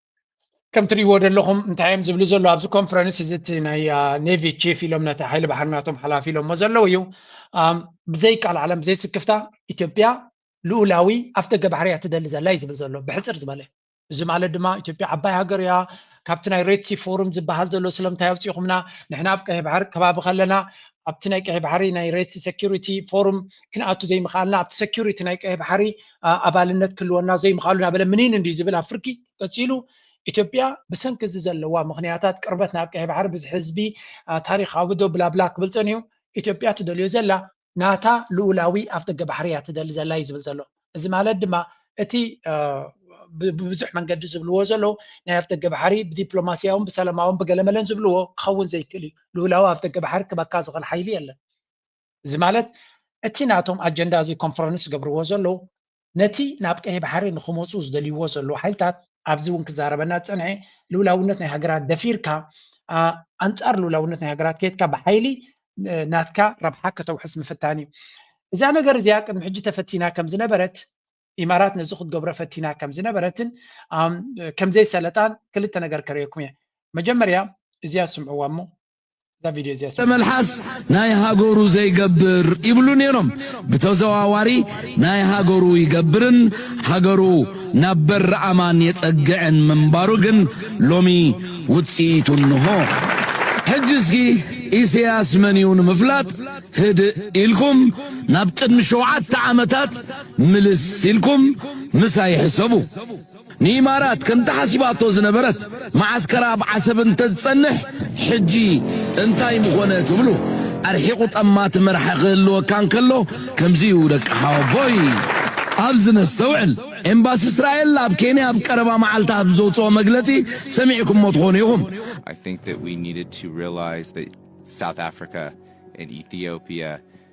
ከም ትሪእዎ ዘለኹም እንታይ እዮም ዝብሉ ዘሎ ኣብዚ ኮንፈረንስ እዚ እቲ ናይ ኔቪ ቺፍ ኢሎም ነቲ ሓይሊ ባሕሪ ናቶም ሓላፊ ኢሎሞ ዘለዉ እዩ ብዘይ ቃል ዓለም ብዘይ ስክፍታ ኢትዮጵያ ልኡላዊ ኣፍደገ ባሕሪ እያ ትደሊ ዘላ እዩ ዝብል ዘሎ ብሕፅር ዝበለ እዚ ማለት ድማ ኢትዮጵያ ዓባይ ሃገር እያ ካብቲ ናይ ሬድሲ ፎርም ዝበሃል ዘሎ ስለምንታይ ኣውፂኹምና ንሕና ኣብ ቀይሕ ባሕሪ ከባቢ ከለና ኣብቲ ናይ ቀይሕ ባሕሪ ናይ ሬድሲ ሴኪሪቲ ፎርም ክንኣቱ ዘይምኽኣልና ኣብቲ ሴኪሪቲ ናይ ቀይሕ ባሕሪ ኣባልነት ክህልወና ዘይምኽኣሉ እናበለ ምኒን እንድዩ ዝብል ኣብ ፍርቂ። ቀጺሉ ኢትዮጵያ ብሰንኪ እዚ ዘለዋ ምኽንያታት ቅርበት ናብ ቀይሕ ባሕሪ ብዝሒ ህዝቢ ታሪኻዊ ዶ ብላብላ ክብል ጸኒሑ ኢትዮጵያ ትደልዮ ዘላ ናታ ልኡላዊ ኣፍደገ ባሕሪ እያ ትደሊ ዘላ እዩ ዝብል ዘሎ። እዚ ማለት ድማ እቲ ብብዙሕ መንገዲ ዝብልዎ ዘለዉ ናይ ኣፍደገ ባሕሪ ብዲፕሎማስያውን ብሰላማውን ብገለመለን ዝብልዎ ክኸውን ዘይክእል እዩ። ልኡላዊ ኣፍደገ ባሕሪ ክበካ ዝኽእል ሓይሊ የለን። እዚ ማለት እቲ ናቶም ኣጀንዳ እዚ ኮንፈረንስ ዝገብርዎ ዘለዉ ነቲ ናብ ቀይሕ ባሕሪ ንክመፁ ዝደልይዎ ዘለዉ ሓይልታት ኣብዚ እውን ክዛረበና ዝፀንሐ ልኡላውነት ናይ ሃገራት ደፊርካ ኣንፃር ልኡላውነት ናይ ሃገራት ከይትካ ብሓይሊ ናትካ ረብሓ ከተውሕስ ምፍታን እዩ እዛ ነገር እዚኣ ቅድሚ ሕጂ ተፈቲና ከም ዝነበረት ኢማራት ነዚ ክትገብሮ ፈቲና ከም ዝነበረትን ከም ዘይሰለጣን ክልተ ነገር ከርእየኩም እየ መጀመርያ እዚኣ ስምዕዋ እሞ እዛ ቪድዮ እዚኣ ስምዕዋ መልሓስ ናይ ሃገሩ ዘይገብር ይብሉ ነይሮም ብተዘዋዋሪ ናይ ሃገሩ ይገብርን ሃገሩ ናብ በሪ ኣማን የጸግዕን ምንባሩ ግን ሎሚ ውጽኢቱ እንሆ ሕጂ እስኪ ኢሰያስ መን እዩ ንምፍላጥ ህድእ ኢልኩም ናብ ቅድሚ ሸውዓተ ዓመታት ምልስ ኢልኩም ምሳይ ሕሰቡ። ንኢማራት ከም ተሓሲባቶ ዝነበረት መዓስከራ ኣብ ዓሰብ እንተትጸንሕ ሕጂ እንታይ ምኾነ ትብሉ? ኣርሒቑ ጠማቲ መራሒ ክህልወካ እንከሎ ከምዚ'ዩ ደቂ ሓወቦይ። ኣብዚ ነስተውዕል። ኤምባሲ እስራኤል ኣብ ኬንያ ኣብ ቀረባ መዓልታት ብዘውጽኦ መግለጺ ሰሚዕኩሞ ትኾኑ ኢኹም። I think that we needed to realize that South Africa and Ethiopia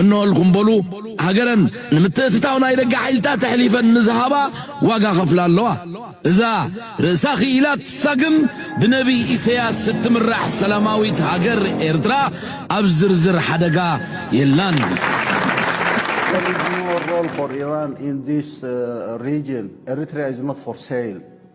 እነሆልኩም በሉ ሃገረን ንምትእትታው ናይ ደገ ሓይልታት ኣሕሊፈን ንዝሃባ ዋጋ ከፍላ ኣለዋ። እዛ ርእሳ ክኢላ ትሳግም ብነብይ ኢሰያስ እትምራሕ ሰላማዊት ሃገር ኤርትራ ኣብ ዝርዝር ሓደጋ የላን።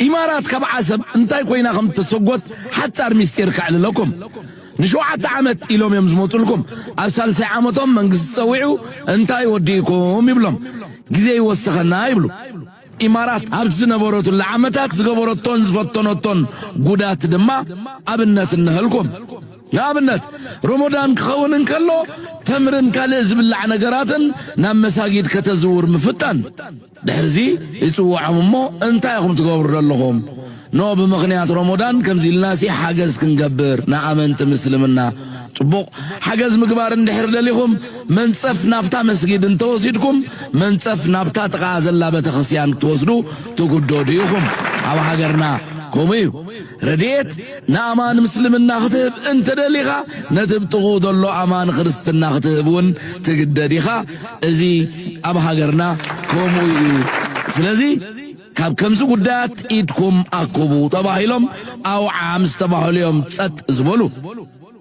ኢማራት ካብ ዓሰብ እንታይ ኮይና ከም እተሰጎት ሓጻር ምስጢር ከዕልለኩም። ንሸውዓተ ዓመት ኢሎም እዮም ዝመጹልኩም። ኣብ ሳልሳይ ዓመቶም መንግስቲ ጸዊዑ እንታይ ወዲእኩም ይብሎም። ግዜ ይወሰኸና ይብሉ። ኢማራት ኣብቲ ዝነበረትሉ ዓመታት ዝገበረቶን ዝፈተነቶን ጉዳት ድማ ኣብነት እንሀልኩም። ንኣብነት ሮሞዳን ክኸውን እንከሎ ተምርን ካልእ ዝብላዕ ነገራትን ናብ መሳጊድ ከተዝውር ምፍታን። ድሕርዚ ይጽውዖም እሞ እንታይ ኢኹም ትገብሩ ዘለኹም ን ብምኽንያት ሮሞዳን ከምዚ ኢልናሲ ሓገዝ ክንገብር ንኣመንቲ ምስልምና ጽቡቕ ሓገዝ ምግባር እንድሕር ደሊኹም መንጸፍ ናብታ መስጊድ እንተወሲድኩም መንጸፍ ናብታ ጥቓኣ ዘላ በተኽስያን ክትወስዱ ትጉደዱ ኢኹም ኣብ ሃገርና ከምኡ እዩ ረድኤት ንኣማን ምስልምና ክትህብ እንተደሊኻ ነቲ ብ ጥቕኡ ዘሎ ኣማን ክርስትና ክትህብ ውን ትግደድ ኢኻ እዚ ኣብ ሃገርና ከምኡ ኢዩ ስለዚ ካብ ከምዚ ጉዳያት ኢድኩም ኣኩቡ ተባሂሎም ኣውዓ ምስተባህሉ ኢዮም ጸጥ ዝበሉ።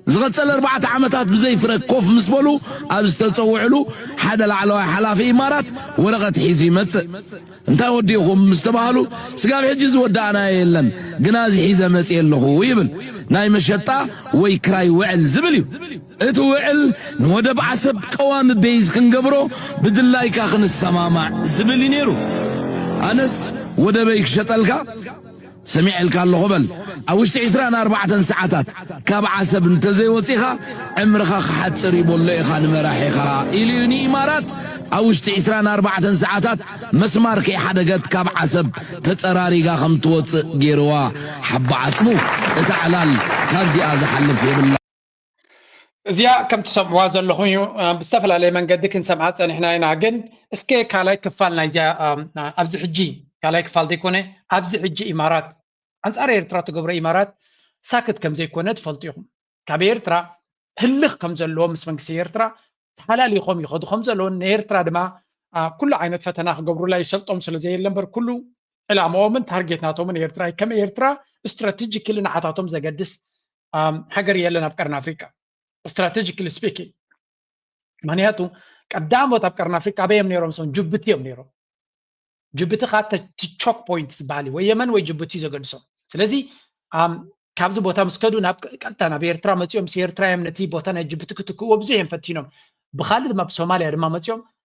ዝቐጸለ ኣርባዕተ ዓመታት ብዘይ ፍረ ኮፍ ምስ በሉ፣ ኣብ ዝተጸውዕሉ፣ ሓደ ላዕለዋይ ሓላፊ ኢማራት ወረቐት ሒዙ ይመጽእ። እንታይ ወዲእኹም ምስ ተባህሉ፣ ስጋብ ሕጂ ዝወዳእናዮ የለን፣ ግና እዚ ሒዘ መጺኤ ኣለኹ ይብል። ናይ መሸጣ ወይ ክራይ ውዕል ዝብል እዩ። እቲ ውዕል፣ ንወደብ ዓሰብ ቀዋሚ ቤይዝ ክንገብሮ ብድላይካ ክንሰማማዕ ዝብል እዩ ነይሩ። ኣነስ ወደበይ ክሸጠልካ? ሰሚዔልካ ኣለኹ በል። ኣብ ውሽጢ ዕስራን ኣርባዕተን ሰዓታት ካብ ዓሰብ እንተዘይወጺኻ ዕምርኻ ክሓጽር እዩ በሎ ኢኻ ንመራሒኻ ኢሉ እዩ ንኢማራት ኣብ ውሽጢ ዕስራን ኣርባዕተን ሰዓታት መስማር ከይሓደገት ካብ ዓሰብ ተጸራሪጋ ከም ትወጽእ ጌርዋ ሓባ ዓጽሙ እታ ዕላል ካብዚኣ ዝሓልፍ የብላን። እዚኣ ከም ትሰምዕዋ ዘለኹም እዩ ብዝተፈላለየ መንገዲ ክንሰምዓ ፀኒሕና ኢና ግን እስከ ካልኣይ ክፋል ናይዚኣ ኣብዚ ሕጂ ካልኣይ ክፋል ዘይኮነ ኣብዚ ሕጂ ኢማራት ኣንፃር ኤርትራ ትገብሮ ኢማራት ሳክት ከም ዘይኮነ ትፈልጡ ኢኹም ካብ ኤርትራ ህልኽ ከም ዘለዎ ምስ መንግስቲ ኤርትራ ተሓላሊኾም ይኸዱ ከም ዘለውን ንኤርትራ ድማ ኩሉ ዓይነት ፈተና ክገብሩላ ይሰልጦም ስለ ዘየለ እምበር ኩሉ ዕላማኦምን ታርጌት ናቶምን ኤርትራ ከም ኤርትራ ስትራቴጂክሊ ንዓታቶም ዘገድስ ሃገር የለን ኣብ ቀርኒ ኣፍሪቃ ስትራቴጂካሊ ስፒኪንግ ምክንያቱ ቀዳሞት ኣብ ቀርኒ ኣፍሪቃ ኣበይ እዮም ነይሮም ሰም ጅቡቲ እዮም ነይሮም ጅቡቲ ከዓ ቾክ ፖይንት ዝበሃል እዩ ወይ የመን ወይ ጅቡቲ እዩ ዘገድሶም ስለዚ ኣም፣ ካብዚ ቦታ ምስ ከዱ ናብ ቀጥታ ናብ ኤርትራ መፂኦም ምስ ኤርትራ እዮም ነቲ ቦታ ናይ ጅቡቲ ክትክእዎ ብዙሕ እዮም ፈቲኖም ብካልእ ድማ ኣብ ሶማልያ ድማ መፂኦም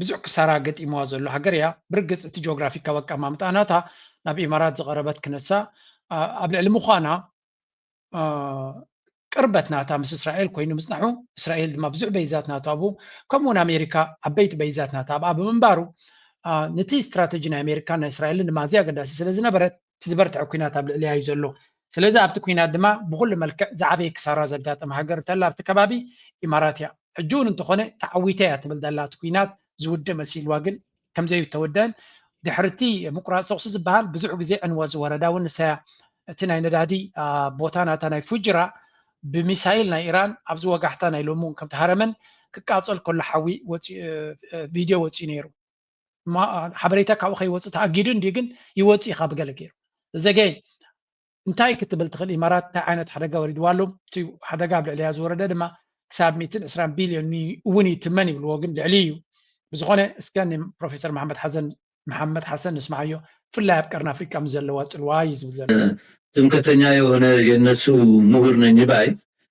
ብዙሕ ክሳራ ገጢምዋ ዘሎ ሃገር እያ። ብርግጽ እቲ ጂኦግራፊካዊ ኣቀማምጣ ናታ ናብ ኢማራት ዝቐረበት ክነሳ ኣብ ልዕሊ ምዃና ቅርበት ናታ ምስ እስራኤል ኮይኑ ምጽናሑ እስራኤል ድማ ብዙሕ በይዛት ናቱ ኣብኡ ከምኡውን ኣሜሪካ ዓበይቲ በይዛት ናታ ኣብኣ ብምንባሩ ነቲ ስትራተጂ ናይ ኣሜሪካን ናይ እስራኤልን ድማ ኣዝያ ኣገዳሲ ስለ ዝነበረት እቲ ዝበርትዐ ኩናት ኣብ ልዕሊያ እዩ ዘሎ። ስለዚ ኣብቲ ኩናት ድማ ብኹሉ መልክዕ ዝዓበየ ክሳራ ዘጋጠማ ሃገር እንተላ ኣብቲ ከባቢ ኢማራት እያ። ሕጂ እውን እንተኾነ ተዓዊተ እያ ትብል ዘላ እቲ ኩናት ዝውድእ መሲልዋ ግን ከምዘይተወደኣን ድሕሪ እቲ ምቁራፅ ተኹሲ ዝበሃል ብዙሕ ግዜ ዕንወት ዝወረዳ እውን ንሳያ እቲ ናይ ነዳዲ ቦታ ናታ ናይ ፉጅራ ብሚሳይል ናይ ኢራን ኣብዚ ወጋሕታ ናይ ሎሚ እውን ከምተሃረመን ክቃፀል ከሎ ሓዊ ቪድዮ ወፂኡ ነይሩ። ሓበሬታ ካብኡ ከይወፅእ ተኣጊዱ እንዲ ግን ይወፅእ ኢኻ ብገለ ገይሩ ዘገ እንታይ ክትብል ትኽእል ኢማራት እንታይ ዓይነት ሓደጋ ወሪድዋ ኣሎ እቲ ሓደጋ ኣብ ልዕሊያ ዝወረደ ድማ ክሳብ 120 ቢልዮን እውን ይትመን ይብልዎ ግን ልዕሊ እዩ ብዝኾነ እስከ ንፕሮፌሰር መሓመድ ሓሰን መሓመድ ሓሰን ንስምዓዮ ብፍላይ ኣብ ቀርኒ ኣፍሪቃ ምስ ዘለዋ ፅልዋ እዩ ዝብል ዘሎ ትምክሕተኛ የሆነ የነሱ ምሁር ነኝ ባይ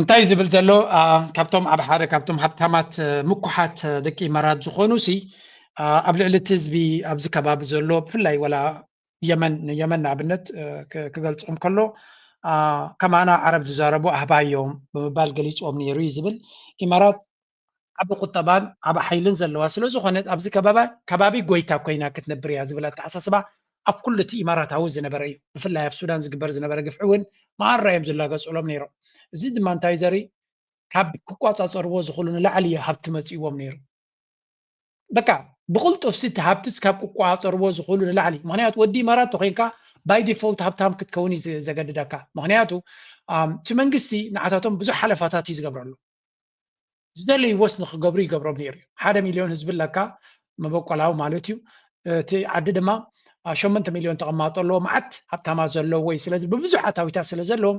እንታይ ዝብል ዘሎ ካብቶም ኣብ ሓደ ካብቶም ሃብታማት ምኩሓት ደቂ ኢማራት ዝኾኑ ሲ ኣብ ልዕሊ እቲ ህዝቢ ኣብዚ ከባቢ ዘሎ ብፍላይ ወላ የመን ንየመን ንኣብነት ክገልፆም ከሎ ከማና ዓረብ ዝዛረቡ ኣህባዮም ብምባል ገሊፆም ነይሩ እዩ ዝብል ኢማራት ዓቢ ቁጠባን ዓቢ ሓይልን ዘለዋ ስለዝኾነት ኣብዚ ከባቢ ከባቢ ጎይታ ኮይና ክትነብር እያ ዝብል ኣተሓሳስባ ኣብ ኩሉ እቲ ኢማራታዊ ዝነበረ እዩ። ብፍላይ ኣብ ሱዳን ዝግበር ዝነበረ ግፍዒ እውን መኣራ እዮም ዝላገጽሎም ነይሮም። እዚ ድማ እንታይ እዩ ዘርኢ ካብ ክቋጻጸርዎ ዝኽእሉ ንላዕሊ እዩ ሃብቲ መጺእዎም ነይሩ። በቃ ብቕልጡፍ እቲ ሃብቲ ካብ ክቋጻጸርዎ ዝኽእሉ ንላዕሊ ምክንያቱ ወዲ ኢማራት ተኮይንካ ባይ ዲፎልት ሃብታም ክትከውን እዩ ዘገድደካ ምክንያቱ እቲ መንግስቲ ንዓታቶም ብዙሕ ሓለፋታት እዩ ዝገብረሉ ዝደለይዎስ ንክገብሩ ይገብሮም ነይሩ እዩ። ሓደ ሚልዮን ህዝቢ ኣለካ መበቆላዊ ማለት እዩ። እቲ ዓዲ ድማ ሸሞንተ ሚልዮን ተቐማጦ ኣለዎ መዓት ሃብታማት ዘለዎ እዩ። ስለዚ ብብዙሕ ኣታዊታት ስለ ዘለዎም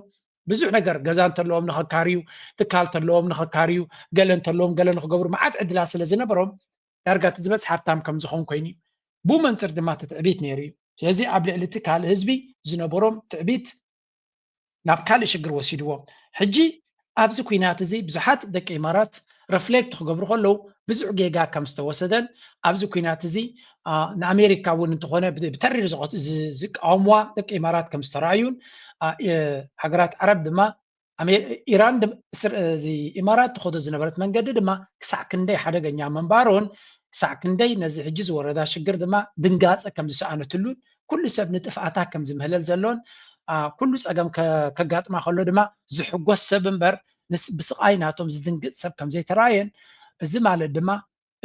ብዙሕ ነገር ገዛ እንተለዎም ንኸካርዩ፣ ትካል እንተለዎም ንኸካርዩ፣ ገለ እንተለዎም ገለ ንክገብሩ መዓት ዕድላት ስለ ዝነበሮም ዳርጋ እቲ ዝበፅሕ ሃብታም ከም ዝኾን ኮይኑ እዩ። ብኡ መንፅር ድማ እቲ ትዕቢት ነይሩ እዩ። ስለዚ ኣብ ልዕሊ እቲ ካልእ ህዝቢ ዝነበሮም ትዕቢት ናብ ካልእ ሽግር ወሲድዎ ሕጂ ኣብዚ ኩናት እዚ ብዙሓት ደቂ ኢማራት ረፍሌክት ክገብሩ ከለዉ ብዙሕ ጌጋ ከም ዝተወሰደን ኣብዚ ኩናት እዚ ንኣሜሪካ እውን እንተኾነ ብተሪር ዝቃወምዋ ደቂ ኢማራት ከም ዝተረኣዩን ሃገራት ዓረብ ድማ ኢራን ኢማራት ትኸዶ ዝነበረት መንገዲ ድማ ክሳዕ ክንደይ ሓደገኛ ምንባሩን ክሳዕ ክንደይ ነዚ ሕጂ ዝወረዳ ሽግር ድማ ድንጋፀ ከም ዝሰኣነትሉን ኩሉ ሰብ ንጥፍኣታ ከም ዝምህለል ዘሎን ኩሉ ጸገም ከጋጥማ ከሎ ድማ ዝሕጎስ ሰብ እምበር ብስቓይ ናቶም ዝድንግጽ ሰብ ከም ዘይተራእየን እዚ ማለት ድማ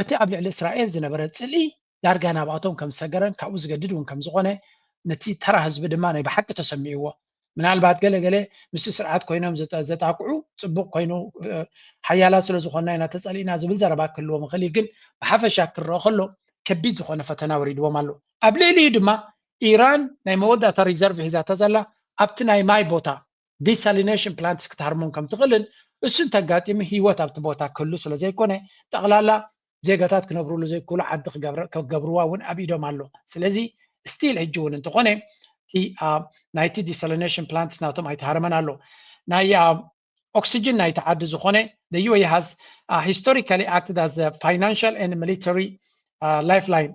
እቲ ኣብ ልዕሊ እስራኤል ዝነበረ ጽልኢ ዳርጋ ናብኣቶም ከም ዝሰገረን ካብኡ ዝገድድ እውን ከም ዝኾነ ነቲ ተራ ህዝቢ ድማ ናይ ብሓቂ ተሰሚዕዎ ምናልባት ገለ ገለ ምስ ስርዓት ኮይኖም ዘጣቅዑ ፅቡቅ ኮይኑ ሓያላ ስለ ዝኾና ኢና ተፀሊእና ዝብል ዘረባ ክህልዎም ይኽእል ግን ብሓፈሻ ክረኦ ከሎ ከቢድ ዝኾነ ፈተና ወሪድዎም ኣሎ ኣብ ልዕሊኡ ድማ ኢራን ናይ መወዳእታ ሪዘርቭ ሒዛቶ ዘላ ኣብቲ ናይ ማይ ቦታ ዲሳሊነሽን ፕላንትስ ክትሃርሞም ከም ትኽእልን እሱ እንተጋጢሙ ህይወት ኣብቲ ቦታ ክህሉ ስለ ዘይኮነ ጠቕላላ ዜጋታት ክነብሩሉ ዘይክእሉ ዓዲ ክገብርዋ እውን ኣብ ኢዶም ኣሎ ስለዚ ስቲል ሕጂ እውን እንተኾነ እቲ ናይቲ ዲሳሊኔሽን ፕላንትስ ናቶም ኣይተሃረመን ኣሎ ናይ ኦክሲጅን ናይቲ ዓዲ ዝኾነ the UAE has uh, historically acted as a financial and military uh, lifeline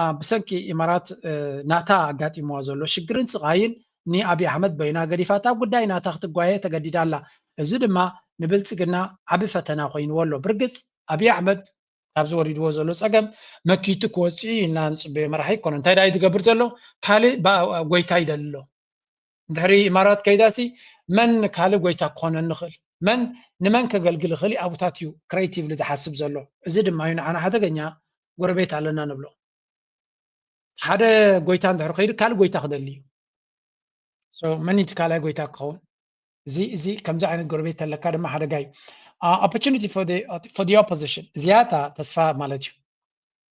ኣብ ብሰንኪ ኢማራት ናታ ኣጋጢምዋ ዘሎ ሽግርን ስቓይን ንኣብይ ኣሕመድ በይና ገዲፋታ ኣብ ጉዳይ ናታ ክትጓየ ተገዲዳ ኣላ። እዚ ድማ ንብልጽግና ዓቢ ፈተና ኮይንዎ ኣሎ። ብርግጽ ኣብይ ኣሕመድ ካብዚ ወሪድዎ ዘሎ ጸገም መኪቱ ክወጽእ'ዩ ኢልና ንጽበዮ መራሒ ኣይኮነን። እንታይ ድኣ'ዩ ዝገብር ዘሎ? ካልእ ጎይታ ይደሊ ኣሎ። ድሕሪ ኢማራት ከይዳሲ መን ካልእ ጎይታ ክኾነኒ ይኽእል? መን ንመን ከገልግል ይኽእል እዩ ኣቡታት እዩ ክሬቲቭሊ ዝሓስብ ዘሎ። እዚ ድማ እዩ ንዓና ሓደገኛ ጎረቤት ኣለና ንብሎ። ሓደ ጎይታ እንድሕር ከይዱ ካልእ ጎይታ ክደሊ እዩ። መን እቲ ካልኣይ ጎይታ ክኸውን? እዚ እዚ ከምዚ ዓይነት ጎረቤት ተለካ ድማ ሓደጋ እዩ። ኦፖርቹኒቲ ፎር ኦፖዚሽን ዝያታ ተስፋ ማለት እዩ።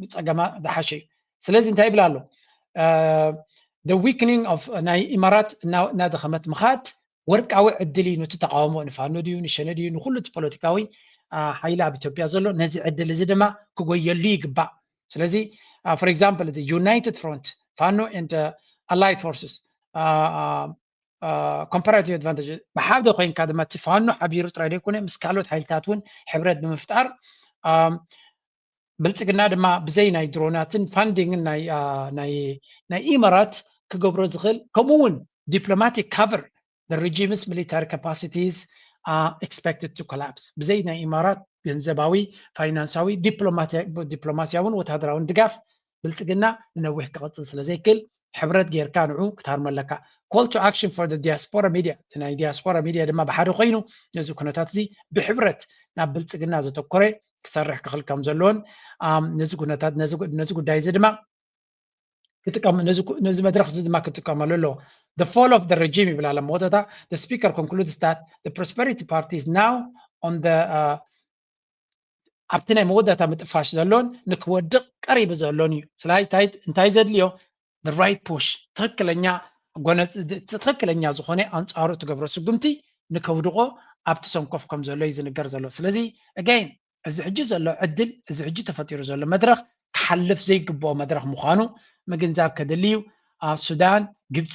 ብፀገማ ዝሓሸ እዩ ስለዚ እንታይ ይብል ኣሎ the weakening of ናይ ኢማራት እናደኸመት ምኻድ ወርቃዊ ዕድል እዩ ነቲ ተቃውሞ ንፋኖ ድዩ ንሸነ ድዩ ንኩሉ እቲ ፖለቲካዊ ሓይሊ ኣብ ኢትዮጵያ ዘሎ ነዚ ዕድል እዚ ድማ ክጎየሉ ይግባእ ስለዚ ፎር ኤግዛምፕል እዚ ዩናይትድ ፍሮንት ፋኖ ንድ ኣላይድ ፎርስስ ኮምፓራቲቭ ኣድቫንቴጅ ብሓደ ኮይንካ ድማ እቲ ፋኖ ሓቢሩ ጥራይ ዘይኮነ ምስ ካልኦት ሓይልታት እውን ሕብረት ብምፍጣር ብልፅግና ድማ ብዘይ ናይ ድሮናትን ፋንዲንግን ናይ ኢማራት ክገብሮ ዝኽእል ከምኡ እውን ዲፕሎማቲክ ካቨር the regime's military capacities are expected to collapse ብዘይ ናይ ኢማራት ገንዘባዊ ፋይናንሳዊ ዲፕሎማሲያውን ወታደራውን ድጋፍ ብልፅግና ንነዊሕ ክቕፅል ስለዘይክል ሕብረት ጌርካ ንዑ ክትሃርሞ ኣለካ ኮል ቱ ኣክሽን ፎር ዲያስፖራ ሚድያ እቲ ናይ ዲያስፖራ ሚድያ ድማ ብሓደ ኮይኑ ነዚ ኩነታት እዚ ብሕብረት ናብ ብልፅግና ዘተኮረ ክሰርሕ ክኽል ከም ዘለዎን ነዚ ኩነታት ነዚ ጉዳይ እዚ ድማ ክጥቀም ነዚ መድረኽ እዚ ድማ ክጥቀመሉ ኣለዎ the fall of the regime ይብል ኣሎ መወዳእታ the speaker concludes that the prosperity party is now on the uh, ኣብቲ ናይ መወዳእታ ምጥፋሽ ዘሎን ንክወድቕ ቀሪቡ ዘሎን እዩ ስላይ እንታይ ዘድልዮ the right push ትኽክለኛ ጎነጽ ትኽክለኛ ዝኾነ ኣንጻሩ እትገብሮ ስጉምቲ ንከውድቖ ኣብቲ ሰንኮፍ ከም ዘሎ እዩ ዝንገር ዘሎ ስለዚ again እዚ ሕጂ ዘሎ ዕድል እዚ ሕጂ ተፈጢሩ ዘሎ መድረኽ ክሓልፍ ዘይግብኦ መድረኽ ምዃኑ ምግንዛብ ከድሊ እዩ ሱዳን ግብፂ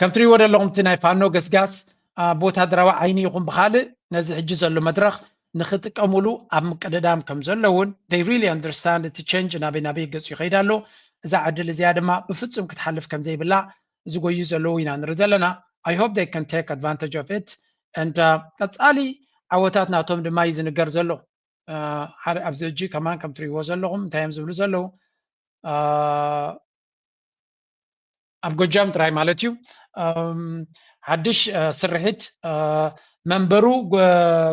ከም ትሪእዎ ዘለኹም እቲ ናይ ፋኖ ገስጋስ ብወታደራዊ ዓይኒ ይኹን ብካልእ ነዚ ሕጂ ዘሎ መድረኽ ንክጥቀሙሉ ኣብ ምቅድዳም ከም ዘሎ እውን they really understand እቲ ቸንጅ ናበይ ናበይ ገጹ ይኸይድ ኣሎ እዛ ዕድል እዚኣ ድማ ብፍጹም ክትሓልፍ ከም ዘይብላ ዝጎዩ ዘለዉ ኢና ንርኢ ዘለና I hope they can take advantage of it and uh, ቀጻሊ ዓወታት ናቶም ድማ እዩ ዝንገር ዘሎ uh, ኣብዚ እጂ ከማን ከም ትሪእዎ ዘለኹም እንታይ እዮም ዝብሉ ዘለዉ uh, ኣብ ጎጃም ጥራይ ማለት እዩ ሓድሽ ስርሒት መንበሩ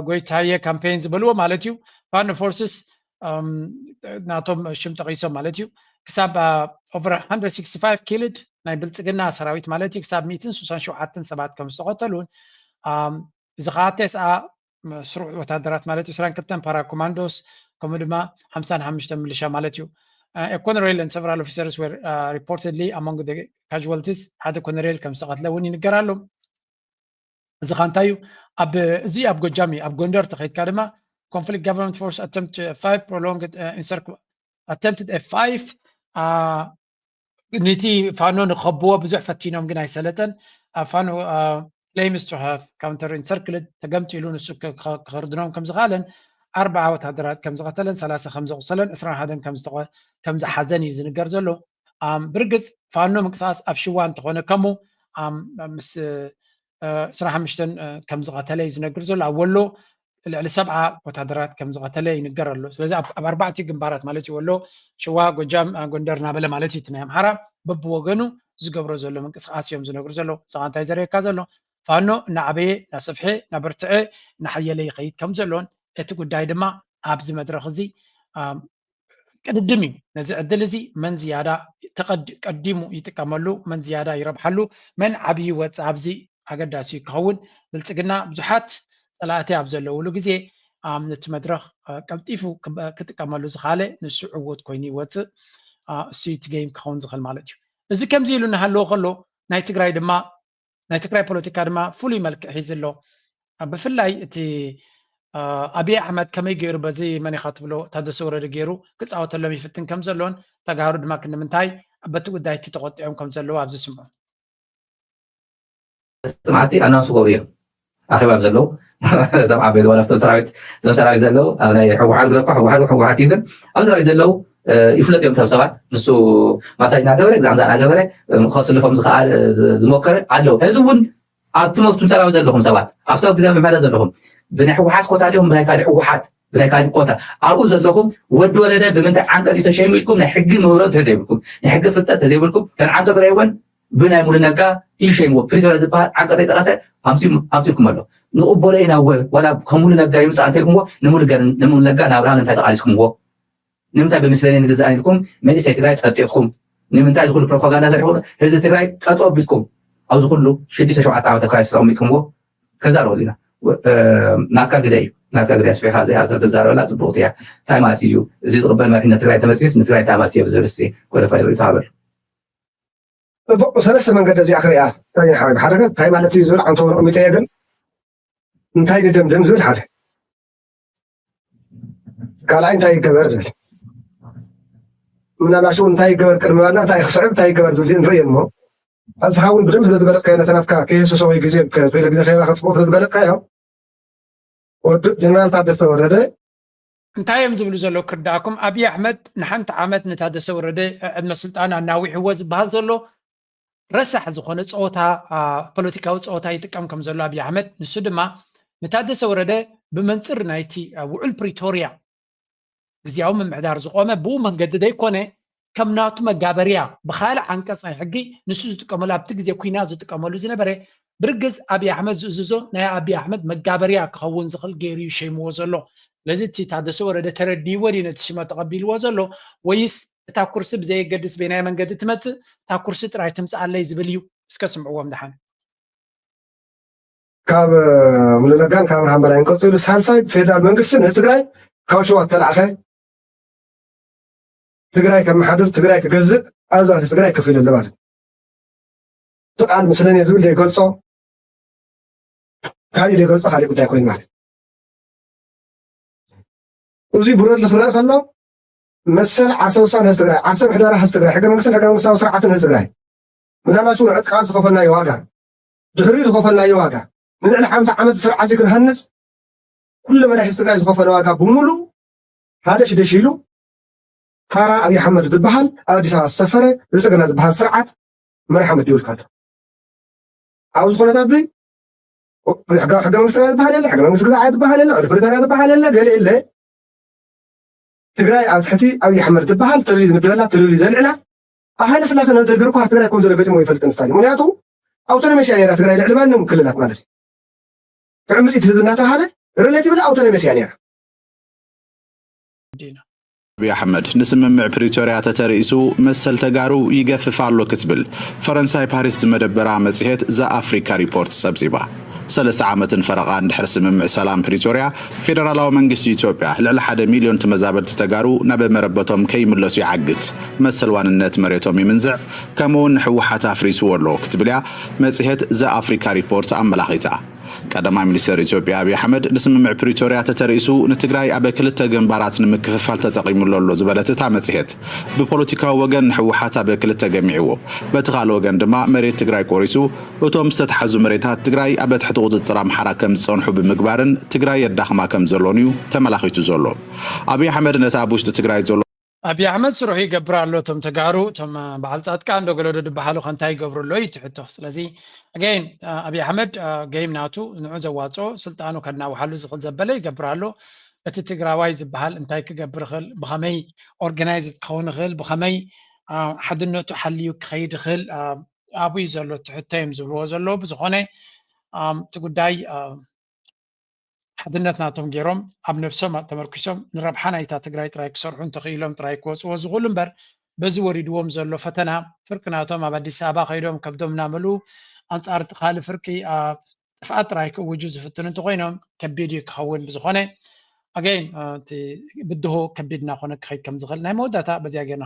ጎይታየ ካምፔይን ዝበልዎ ማለት እዩ ፋኖ ፎርስስ ናቶም ሽም ጠቂሶም ማለት እዩ ክሳብ ኦቨር 165 ኪልድ ናይ ብልፅግና ሰራዊት ማለት እዩ ክሳብ 167 ሰባት ከም ዝተቐተሉን እዚ ከዓ ተስኣ መስሩዕ ወተሃደራት ማለት እዩ፣ ዕስራን ክልተን ፓራ ኮማንዶስ ከምኡ ድማ ሓምሳን ሓሙሽተን ምልሻ ማለት እዩ። አ ኮነሬል ን ሰቨራል ኦፊሰርስ ወር ሪፖርትድሊ ኣሞንግ ዘ ካዥዋልቲስ ሓደ ኮነሬል ከም ዝተቐትለ እውን ይንገር ኣሎ። እዚ ኸ እንታይ እዩ? ኣብ እዚ ኣብ ጎጃም እዩ። ኣብ ጎንደር ተኸይድካ ድማ ኮንፍሊክት ጋቨርንመንት ፎርስ ኣተምፕት ፋይቭ ፕሮሎንግድ ኢንሰርክ ኣተምፕትድ ፋይቭ ንቲ ፋኖ ንከብዎ ብዙሕ ፈቲኖም ግን ኣይሰለጠን ኣብ ፋኖ ክሌምስ ቱ ሃቭ ካውንተር ኢንሰርክልድ ተገምጢሉ ንሱ ክክርድኖም ከም ዝኸኣለን ኣርባዓ ወተሃደራት ከም ዝቐተለን ሰላሳ ከም ዘቑሰለን ዕስራን ሓደን ከም ዝሓዘን እዩ ዝንገር ዘሎ ብርግፅ ፋኖ ምንቅስቓስ ኣብ ሽዋ እንተኾነ ከሙ ምስ ዕስራን ሓሙሽተን ከም ዝቐተለ እዩ ዝነግር ዘሎ ኣብ ወሎ ልዕሊ ሰብዓ ወታደራት ከም ዝቐተለ ይንገር ኣሎ ስለዚ ኣብ ኣርባዕቲኡ ግንባራት ማለት እዩ ወሎ ሽዋ ጎጃም ጎንደር እናበለ ማለት እዩ እቲ ናይ ኣምሓራ በብወገኑ ዝገብሮ ዘሎ ምንቅስቃስ እዮም ዝነግሩ ዘለዉ እዚኻ እንታይ ዘርእየካ ዘሎ ፋኖ እናዓበየ እናሰፍሐ እናበርትዐ እናሓየለ ይኸይድ ከም ዘሎን እቲ ጉዳይ ድማ ኣብዚ መድረኽ እዚ ቅድድም እዩ። ነዚ ዕድል እዚ መን ዝያዳ ቀዲሙ ይጥቀመሉ፣ መን ዝያዳ ይረብሓሉ፣ መን ዓብዪ ይወፅእ ኣብዚ ኣገዳሲ እዩ ክኸውን። ብልፅግና ብዙሓት ፀላእቲ ኣብ ዘለውሉ ግዜ ኣብ ነቲ መድረኽ ቀልጢፉ ክጥቀመሉ ዝኸኣለ ንሱ ዕዉት ኮይኑ ይወፅእ። እሱ እቲ ገይም ክኸውን ዝኽእል ማለት እዩ። እዚ ከምዚ ኢሉ እናሃለወ ከሎ ናይ ትግራይ ድማ ናይ ትግራይ ፖለቲካ ድማ ፍሉይ መልክዕ ሒዙ ኣሎ። ብፍላይ እቲ ኣብይ ኣሕመድ ከመይ ገይሩ በዚ መን ኢኻ ትብሎ ታደሰ ወረደ ገይሩ ክፃወተሎም ይፍትን ከም ዘሎን ተጋሩ ድማ ክንምንታይ በቲ ጉዳይ እቲ ተቆጢዖም ከም ዘለዉ ኣብዚ ስምዑ። መፅናዕቲ ኣናብስ ጎብዮም ኣኼባ ዘለዉ እዞም ዓበይ ዝኾነ ፍቶም ሰራዊት እዞም ሰራዊት ዘለዉ ኣብ ናይ ሕወሓት ግረኳ ሕወሓት ሕወሓት እዩ ግን ኣብ ሰራዊት ዘለዉ ይፍለጥ እዮም ቶም ሰባት ንሱ ማሳጅ ናገበረ ግዛምዛ ናገበረ ከስልፎም ዝኸኣል ዝሞከረ ኣለዉ ሕዚ እውን ኣብቲ መብቱም ሰራዊት ዘለኹም ሰባት ኣብቲ ኣብ ግዜ ምምሕረት ዘለኹም ብናይ ሕወሓት ኮታ ድዮም ብናይ ካልእ ሕወሓት ብናይ ካልእ ኮታ ኣብኡ ዘለኹም ወዲ ወለደ ብምንታይ ዓንቀፅ ተሸይሙ ኢልኩም ናይ ሕጊ ምህሮ እንተዘይብልኩም ናይ ሕጊ ፍልጠት ተዘይብልኩም ከን ዓንቀፅ ረይወን ብናይ ሙሉ ነጋ ኢዩ ሸይምዎ ፕሪቶርያ ዝብሃል ዓንቀጽ ዘይጠቀሰ ኣምጺኡ ኣምጺኡልኩም ኣሎ ንቅቦሎ ኢና እወ ዋላ ከም ሙሉ ነጋ ይምጻእ እንተኢልኩምዎ ንሙሉ ነጋ ንኣብርሃም ንምንታይ ተቃሊስኩምዎ ንምንታይ ብምስለኔ ንግዛእ ኢልኩም መንእሰይ ትግራይ ጠጢቅኩም ንምንታይ እዚ ኩሉ ፕሮፓጋንዳ ሰሪሕኩም ህዝቢ ትግራይ ጠጠው ኣቢልኩም ኣብዚ ኩሉ ሽዱሽተ ሸውዓተ ዓመት ኣብ ክራይሲስ ኣቀሚጥኩምዎ ከዛረበሉ ኢና ናትካ ግደ እዩ ናትካ ግደ ኣስፊሕካ እዚኣ ተዛረበላ ፅቡቅቲ እያ እንታይ ማለት እዩ እዚ ዝቕበል መሪሕነት ትግራይ ተመፅዩስ ንትግራይ እንታይ ማለት እዩ ብዝብል እስቲ ጎደፋይ ርእቶ ሃበሉ ጽቡቅ ብሰለስተ መንገዲ እዚኣ ክሪኣ ዳኛ ሓወይ ሓደ ገጽ እንታይ ማለት እዩ ዝብል ዓንተቦ ኣቀሚጠ እየ ግን እንታይ ንደምድም ዝብል ሓደ ካልኣይ እንታይ ይገበር ዝብል ምናልባት ሽኡ እንታይ ይገበር ቅድሚ ባና እንታይ ክስዕብ እንታይ ይገበር ዝብል እዚኦ ንርእየን እሞ ኣብዝሓ እውን ብደምብ ስለ ዝበለጥካዮ ነቲ ናትካ ከየህስሶ ወይ ግዜ ክኢለ ግዜ ከየባኸ ፅቡቅ ስለ ዝበለጥካዮ ወዲ ጀነራል ታደሰ ወረደ እንታይ እዮም ዝብሉ ዘለዉ ክርዳኣኩም ኣብዪ ኣሕመድ ንሓንቲ ዓመት ንታደሰ ወረደ ዕድመ ስልጣን ኣናዊሕዎ ዝበሃል ዘሎ ረሳሕ ዝኾነ ፀወታ ፖለቲካዊ ፀወታ ይጥቀም ከም ዘሎ ኣብዪ ኣሕመድ ንሱ ድማ ንታደሰ ወረደ ብመንፅር ናይቲ ውዑል ፕሪቶርያ ግዜያዊ ምምሕዳር ዝቆመ ብኡ መንገዲ ዘይኮነ ከም ናቱ መጋበርያ ብካልእ ዓንቀጽ ናይ ሕጊ ንሱ ዝጥቀመሉ ኣብቲ ግዜ ኩናት ዝጥቀመሉ ዝነበረ ብርግጽ ኣብይ ኣሕመድ ዝእዝዞ ናይ ኣብይ ኣሕመድ መጋበርያ ክኸውን ዝኽእል ገይሩ እዩ ሸይምዎ ዘሎ ስለዚ እቲ ታደሰ ወረደ ተረዲእዎ ድዩ ነቲ ሽመት ተቐቢልዎ ዘሎ ወይስ እታ ኩርሲ ብዘየገድስ በየናይ መንገዲ ትመጽእ እታ ኩርሲ ጥራይ ትምጽኣለይ ዝብል እዩ እስከ ስምዕዎም ድሓን ካብ ሙሉነጋን ካብ ብርሃን በላይን ቀፂሉ ሳልሳይ ፌደራል መንግስቲ ንህዝቢ ትግራይ ካብ ሸዋ እተላእኸ ትግራይ ከመሓድር ትግራይ ክገዝእ ኣብዚ ማለት ትግራይ ክፍ ኢለ ማለት እቲ ቃል ምስለኔ ዝብል ዘይገልፆ ካሊእ ዘይገልፆ ካሊእ ጉዳይ ኮይኑ ማለት እዚ ብረድሊ ክረአ ከሎ መሰል ዓርሰ ውሳነ ህዝቢ ትግራይ ዓርሰ ምሕደራ ህዝቢ ትግራይ ሕገ መንግስትን ሕገ መንግስታዊ ስርዓትን ህዝቢ ትግራይ ምናልባት እውን ዕጥቃት ዝኸፈልናዮ ዋጋ ድሕሪኡ ዝኸፈልናዮ ዋጋ ንልዕሊ ሓምሳ ዓመት ስርዓት እዚ ክንሃንፅ ኩሉ መዳይ ህዝቢ ትግራይ ዝኸፈለ ዋጋ ብምሉእ ሃደሽ ደሽ ኢሉ ፋራ ኣብይ ኣሕመድ ዝባሃል ኣብ ኣዲስ ኣበባ ዝሰፈረ ብልፅግና ዝባሃል ስርዓት መራሒ መዲቡልካ ኣሎ ኣብዚ ኩነታት እዚ ሕጋዊ ሕገ መንግስትና ዝበሃል የለ ሕገ መንግስቲ ግዛዓ ዝበሃል የለ ሪፈሪታርያ ዝበሃል የለ ገለ የለ ትግራይ ኣብ ትሕቲ ኣብይ ኣሕመድ ዝበሃል ተልዩ ዝምደበላ ተልዩ ዘልዕላ ኣብ ሃይለ ስላሴ ናብ ደርጊ ርኳ ትግራይ ከም ዘሎ ገጢሞ ይፈልጥን ስታሊ ምክንያቱ ኣውቶኖሜስ እያ ነራ ትግራይ ልዕሊ ማንም ክልላት ማለት እዩ ትዕምፂት ህዝቢ እናተባሃለ ሪሌቲቭሊ ኣውቶኖሜስ እያ ነራ ዲና። ኣብይ ኣሕመድ ንስምምዕ ፕሪቶርያ ተተርኢሱ መሰል ተጋሩ ይገፍፍ ኣሎ ክትብል ፈረንሳይ ፓሪስ ዝመደበራ መፅሄት ዘ ኣፍሪካ ሪፖርት ፀብፂባ። ሰለስተ ዓመትን ፈረቓን ድሕሪ ስምምዕ ሰላም ፕሪቶርያ ፌደራላዊ መንግስቲ ኢትዮጵያ ልዕሊ ሓደ ሚልዮን ተመዛበልቲ ተጋሩ ናብ መረበቶም ከይምለሱ ይዓግት፣ መሰል ዋንነት መሬቶም ይምንዝዕ ከምኡውን ንህወሓት ኣፍሪስዎ ኣሎ ክትብልያ መፅሄት ዘ ኣፍሪካ ሪፖርት ኣመላኺታ። ቀዳማይ ሚኒስተር ኢትዮጵያ ኣብይ ኣሕመድ ንስምምዕ ፕሪቶርያ ተተርኢሱ ንትግራይ ኣብ ክልተ ግንባራት ንምክፍፋል ተጠቒሙሉ ኣሎ ዝበለት እታ መፅሄት ብፖለቲካዊ ወገን ንሕወሓት ኣብ ክልተ ገሚዕዎ በቲ ካልእ ወገን ድማ መሬት ትግራይ ቆሪሱ እቶም ዝተትሓዙ መሬታት ትግራይ ኣብ ትሕቲ ቁፅፅር ኣምሓራ ከምዝፀንሑ ብምግባርን ትግራይ የዳኽማ ከምዘሎን እዩ ተመላኺቱ ዘሎ። ኣብይ ኣሕመድ ነቲ ኣብ ውሽጢ ትግራይ ዘሎ ኣብይ ኣሕመድ ስርሑ ይገብር ኣሎ እቶም ተጋሩ እቶም በዓል ፃድቃን ዶ ገለዶ ድበሃሉ ከ እንታይ ይገብሩ ኣሎ እዩ እቲ ሕቶ ስለዚ ኣገይን ኣብይ ኣሕመድ ገይም ናቱ ንዑ ዘዋፅኦ ስልጣኑ ከናውሓሉ ዝኽእል ዘበለ ይገብር ኣሎ እቲ ትግራዋይ ዝበሃል እንታይ ክገብር ይኽእል ብኸመይ ኦርጋናይዝ ክኸውን ይኽእል ብኸመይ ሓድነቱ ሓልዩ ክኸይድ ይኽእል ኣብይ ዘሎ እቲ ሕቶ እዮም ዝብልዎ ዘለዎ ብዝኾነ እቲ ጉዳይ ሓድነት ናቶም ገይሮም ኣብ ነብሶም ተመርኲሶም ንረብሓ ናይታ ትግራይ ጥራይ ክሰርሑ እንተኽኢሎም ጥራይ ክወፅዎ ዝኽእሉ እምበር በዚ ወሪድዎም ዘሎ ፈተና ፍርቂ ናቶም ኣብ ኣዲስ ኣበባ ከይዶም ከብዶም እናመልኡ ኣንፃር እቲ ካልእ ፍርቂ ጥፍኣት ጥራይ ክእውጁ ዝፍትኑ እንተኾይኖም ከቢድ እዩ ክኸውን ብዝኾነ ኣገይን እቲ ብድሆ ከቢድ እናኾነ ክኸይድ ከም ዝኽእል ናይ መወዳእታ በዚኣ ጌርና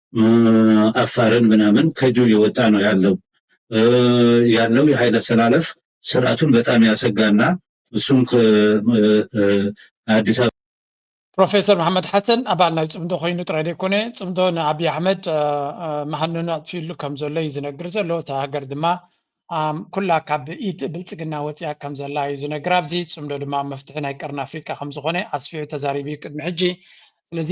አፋርን ምናምን ከጁ እየወጣ ነው ያለው ያለው የኃይለ አሰላለፍ ስርዓቱን በጣም ያሰጋና እሱም አዲስ አበባ ፕሮፌሰር መሓመድ ሓሰን ኣባል ናይ ፅምዶ ኮይኑ ጥራይ ዘይኮነ ፅምዶ ንኣብዪ ኣሕመድ መሃንኑ ኣጥፊሉ ከም ዘሎ እዩ ዝነግር ዘሎ እታ ሃገር ድማ ኩላ ካብ ኢድ ብልጽግና ወጺኣ ከም ዘላ እዩ ዝነግር ኣብዚ፣ ጽምዶ ድማ መፍትሒ ናይ ቀርኒ ኣፍሪቃ ከም ዝኾነ ኣስፊሑ ተዛሪቡ እዩ ቅድሚ ሕጂ። ስለዚ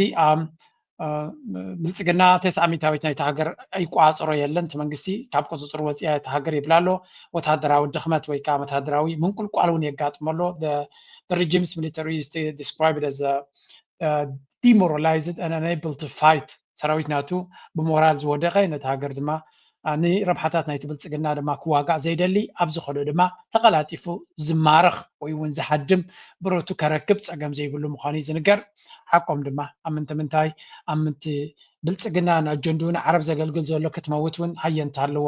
ብልጽግና ተስዓ ሚእታዊት ናይታ ሃገር ይቆጻጸሮ የለን፣ እቲ መንግስቲ ካብ ቁጽጽሩ ወጺኣ እያ እታ ሃገር ይብል ኣሎ። ወተሃደራዊ ድኽመት ወይ ከኣ ወተሃደራዊ ምንቁልቋል እውን የጋጥሞ ኣሎ። The regime's military is described as ዲሞራላይዝድ ኣን ኣነብል ቱ ፋይት ሰራዊት ናቱ ብሞራል ዝወደቐ ነቲ ሃገር ድማ ንረብሓታት ናይቲ ብልፅግና ድማ ክዋጋእ ዘይደሊ ኣብ ዝኸዶ ድማ ተቐላጢፉ ዝማረኽ ወይ እውን ዝሃድም ብረቱ ከረክብ ፀገም ዘይብሉ ምዃኑ እዩ ዝንገር ሓቆም ድማ ኣብ ምንተ ምንታይ ኣብ ምንቲ ብልፅግና ንኣጀንድኡ ንዓረብ ዘገልግል ዘሎ ክትመውት እውን ሃየንታ ኣለዎ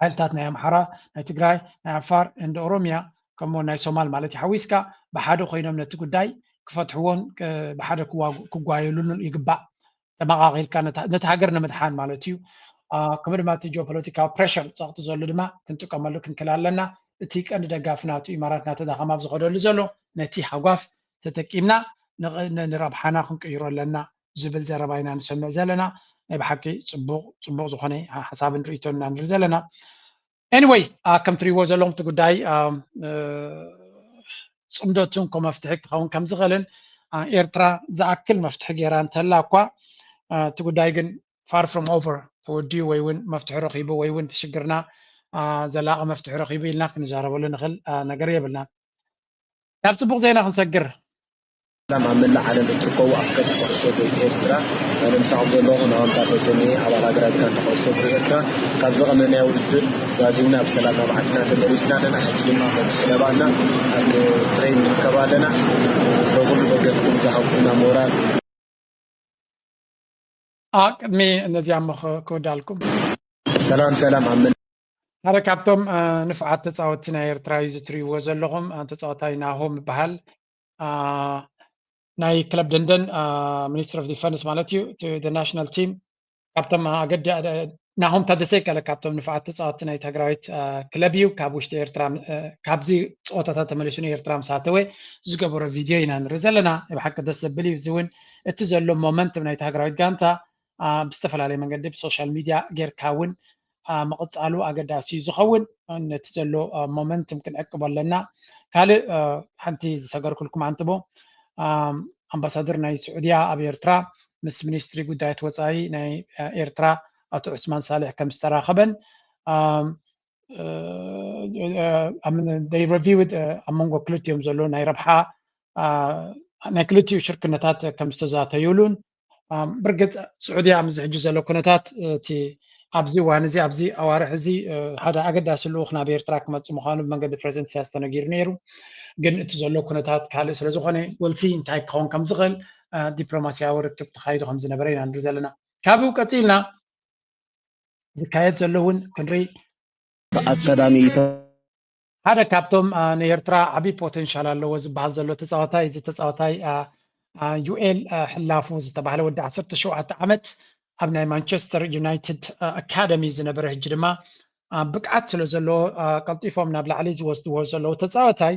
ሓይልታት ናይ ኣምሓራ፣ ናይ ትግራይ፣ ናይ ዓፋር and ኦሮሚያ ከምኡውን ናይ ሶማል ማለት እዩ ሓዊስካ ብሓደ ኮይኖም ነቲ ጉዳይ ክፈትሕዎን ብሓደ ክጓየሉን ይግባእ። ተመቓቒልካ ነቲ ሃገር ንምድሓን ማለት እዩ። ከምኡ ድማ እቲ ጂኦፖለቲካዊ ፕሬሽር ፀቕጢ ዘሉ ድማ ክንጥቀመሉ ክንክል ኣለና እቲ ቀንዲ ደጋፊ ናቱ ኢማራት እናተዳኸመ ኣብ ዝኸደሉ ዘሎ ነቲ ሃጓፍ ተጠቂምና ንረብሓና ክንቅይሮ ኣለና ዝብል ዘረባ ኢና ንሰምዕ ዘለና ናይ ብሓቂ ጽቡቅ ጽቡቅ ዝኮነ ሓሳብን ርእቶን ኢና ንርኢ ዘለና ኤኒወይ ከም ትሪእዎ ዘለኹም እቲ ጉዳይ ፅምዶ ትንኮ መፍትሒ ክኸውን ከም ዝኽእልን ኤርትራ ዝኣክል መፍትሒ ገይራ እንተላ እኳ እቲ ጉዳይ ግን ፋር ፍሮም ኦቨር ተወዲኡ ወይ እውን መፍትሒ ረኺቡ ወይ እውን እቲ ሽግርና ዘላቂ መፍትሒ ረኺቡ ኢልና ክንዛረበሉ ንኽእል ነገር የብልናን ናብ ፅቡቅ ዜና ክንሰግር ሰላም ኣብ መላእ ዓለም እትርከቡ ኣፍቀርቲ ኩዕሶ እግሪ ኤርትራ ኣነ ምሳኹም ዘለኹ ናሆምታ ተሰምየ ኣባል ሃገራዊት ጋንታ ኩዕሶ እግሪ ኤርትራ ካብ ዝቐመናዮ ውድድር ጓዚምና ብሰላም ናብ ዓድና ተመሊስና ኣለና ሕጂ ድማ ከም ሰለባና ኣብ ትሬን ንርከብ ኣለና ስለ ኩሉ ደገፍኩም ዝሃብኩምና ሞራል ቅድሚ እነዚያ እሞ ክወዳልኩም ሰላም ሰላም ኣብ ሓደ ካብቶም ንፉዓት ተፃወትቲ ናይ ኤርትራ እዩ ዝትሪእዎ ዘለኹም ተፃወታይ ናሆም ይበሃል ናይ ክለብ ደንደን ሚኒስትሪ ኦፍ ዲፈንስ ማለት እዩ እቲ ናሽናል ቲም ካብቶም ኣገዲ ናሆም ታደሰ ይከለ ካብቶም ንፉዓት ተፃወቲ ናይ ትግራዊት ክለብ እዩ ካብ ውሽጢ ኤርትራ ካብዚ ፀወታታት ተመሊሱ ንኤርትራ ምስ ኣተወ ዝገበሮ ቪድዮ ኢና ንርኢ ዘለና ብሓቂ ደስ ዘብል እዩ እዚ እውን እቲ ዘሎ ሞመንት ናይ ትግራዊት ጋንታ ብዝተፈላለየ መንገዲ ብሶሻል ሚድያ ጌርካ እውን ምቕፃሉ ኣገዳሲ እዩ ዝኸውን ነቲ ዘሎ ሞመንትም ክንዕቅቦ ኣለና ካልእ ሓንቲ ዝሰገርኩልኩም ኣንትቦ ኣምባሳደር ናይ ስዑድያ ኣብ ኤርትራ ምስ ሚኒስትሪ ጉዳያት ወፃኢ ናይ ኤርትራ ኣቶ ዑስማን ሳልሕ ከም ዝተራኸበን ረቪውድ ኣብ መንጎ ክልቲኦም ዘሎ ናይ ረብሓ ናይ ክልቲኡ ሽርክነታት ከም ዝተዛተዩሉን ብርግፅ ስዑድያ ኣብዚ ሕጂ ዘሎ ኩነታት እቲ ኣብዚ እዋን እዚ ኣብዚ ኣዋርሕ እዚ ሓደ ኣገዳሲ ልኡኽ ናብ ኤርትራ ክመፅ ምዃኑ ብመንገዲ ፕረዚደንት ኢሳያስ ተነጊሩ ነይሩ ግን እቲ ዘሎ ኩነታት ካልእ ስለ ዝኾነ ወልሲ እንታይ ክኸውን ከም ዝኽእል ዲፕሎማስያዊ ርክብ ተኻይዱ ከም ዝነበረ ኢና ንርኢ ዘለና ካብኡ ቀፂልና ዝካየድ ዘሎ እውን ክንርኢ ብኣካዳሚ ሓደ ካብቶም ንኤርትራ ዓብዪ ፖቴንሻል ኣለዎ ዝበሃል ዘሎ ተፃዋታይ እዚ ተፃዋታይ ዩኤል ሕላፉ ዝተባህለ ወዲ 17 ዓመት ኣብ ናይ ማንቸስተር ዩናይትድ ኣካደሚ ዝነበረ ሕጂ ድማ ብቅዓት ስለ ዘለዎ ቀልጢፎም ናብ ላዕሊ ዝወስድዎ ዘለዉ ተፃዋታይ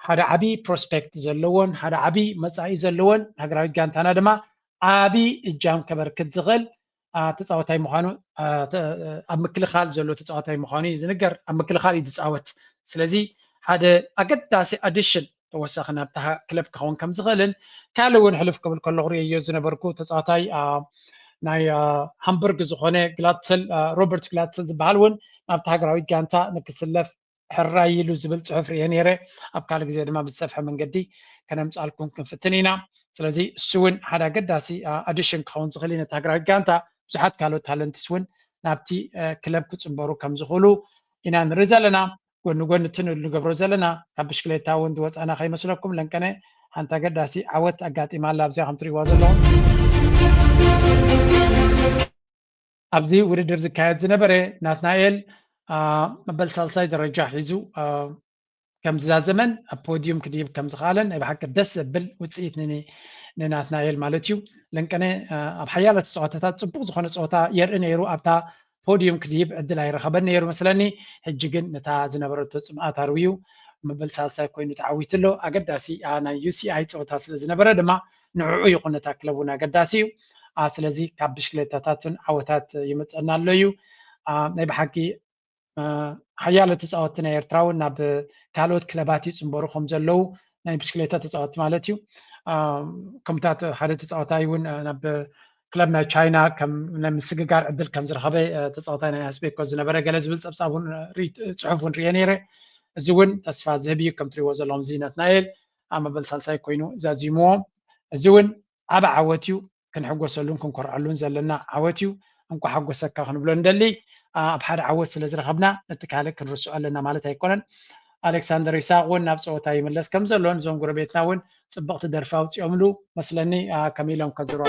ሓደ ዓብዪ ፕሮስፔክት ዘለዎን ሓደ ዓብዪ መፃኢ ዘለዎን ሃገራዊት ጋንታና ድማ ዓብዪ እጃም ከበርክት ዝኽእል ተፃወታይ ምዃኑ ኣብ ምክልኻል ዘሎ ተፃወታይ ምዃኑ እዩ ዝንገር ኣብ ምክልኻል እዩ ዝፃወት ስለዚ ሓደ ኣገዳሲ ኣዲሽን ተወሳኺ ናብታ ክለብ ክኸውን ከም ዝኽእልን ካልእ እውን ሕልፍ ክብል ከለኹ ርእየዮ ዝነበርኩ ተፃወታይ ናይ ሃምበርግ ዝኾነ ግላትሰል ሮበርት ግላትሰል ዝበሃል እውን ናብቲ ሃገራዊት ጋንታ ንክስለፍ ሕራይ ኢሉ ዝብል ጽሑፍ ርእየ ነይረ። ኣብ ካልእ ግዜ ድማ ብዝሰፍሐ መንገዲ ከነምጽኣልኩም ክንፍትን ኢና። ስለዚ እሱ እውን ሓደ ኣገዳሲ ኣዲሽን ክኸውን ዝኽእል እዩ ነቲ ሃገራዊት ጋንታ። ብዙሓት ካልኦት ታለንትስ እውን ናብቲ ክለብ ክጽንበሩ ከም ዝኽእሉ ኢና ንርኢ ዘለና። ጎኒ ጎኒ እቲ ንገብሮ ዘለና ካብ ብሽክሌታ እውን ዝወጻና ከይመስለኩም ለንቀነ ሓንቲ ኣገዳሲ ዓወት ኣጋጢማ ኣላ ኣብዚኣ ከም ትርእይዋ ዘለኹም ኣብዚ ውድድር ዝካየድ ዝነበረ ናትናኤል መበል ሳልሳይ ደረጃ ሒዙ ከም ዝዛዘመን ኣብ ፖድዩም ክድይብ ከም ዝኸኣለን ናይ ብሓቂ ደስ ዘብል ውፅኢት ንናትናኤል ማለት እዩ ለንቀነ ኣብ ሓያለት ፀወታታት ፅቡቕ ዝኾነ ፀወታ የርኢ ነይሩ ኣብታ ፖድዩም ክድይብ ዕድል ኣይረኸበን ነይሩ መስለኒ ሕጂ ግን ነታ ዝነበረቶ ፅምኣት ኣርውዩ መበል ሳልሳይ ኮይኑ ተዓዊቱ ኣሎ ኣገዳሲ ናይ ዩሲኣይ ፀወታ ስለ ዝነበረ ድማ ንዕዑ ይኹን እታ ክለብ እውን ኣገዳሲ እዩ ስለዚ ካብ ብሽክሌታታትን ዓወታት ይመፀና ኣሎ እዩ ናይ ብሓቂ ሓያሎ ተፃወትቲ ናይ ኤርትራ እውን ናብ ካልኦት ክለባት ይፅምበሩ ከም ዘለዉ ናይ ብሽክሌታ ተፃወትቲ ማለት እዩ ከምታት ሓደ ተፃወታይ እውን ናብ ክለብ ናይ ቻይና ናይ ምስግጋር ዕድል ከም ዝረኸበ ተፃወታይ ናይ ኣስቤኮ ዝነበረ ገለ ዝብል ፀብፃብ እውን ፅሑፍ እውን ርየ ነይረ እዚ እውን ተስፋ ዝህብ እዩ ከም ትሪእዎ ዘለኹም እዚ ናትናኤል ኣብ መበል ሳልሳይ ኮይኑ ዛዚሙዎ። እዚ እውን ዓቢ ዓወት እዩ። ክንሕጎሰሉን ክንኮርዐሉን ዘለና ዓወት እዩ። እንኳዕ ሓጎሰካ ክንብሎ ንደሊ። ኣብ ሓደ ዓወት ስለ ዝረኸብና ነቲ ካልእ ክንርስዖ ኣለና ማለት ኣይኮነን። ኣሌክሳንደር ይስሃቅ እውን ናብ ፀወታ ይምለስ ከም ዘሎን እዞም ጎረቤትና እውን ፅብቕቲ ደርፊ ኣውፂኦምሉ መስለኒ ከም ኢሎም ከዝሮ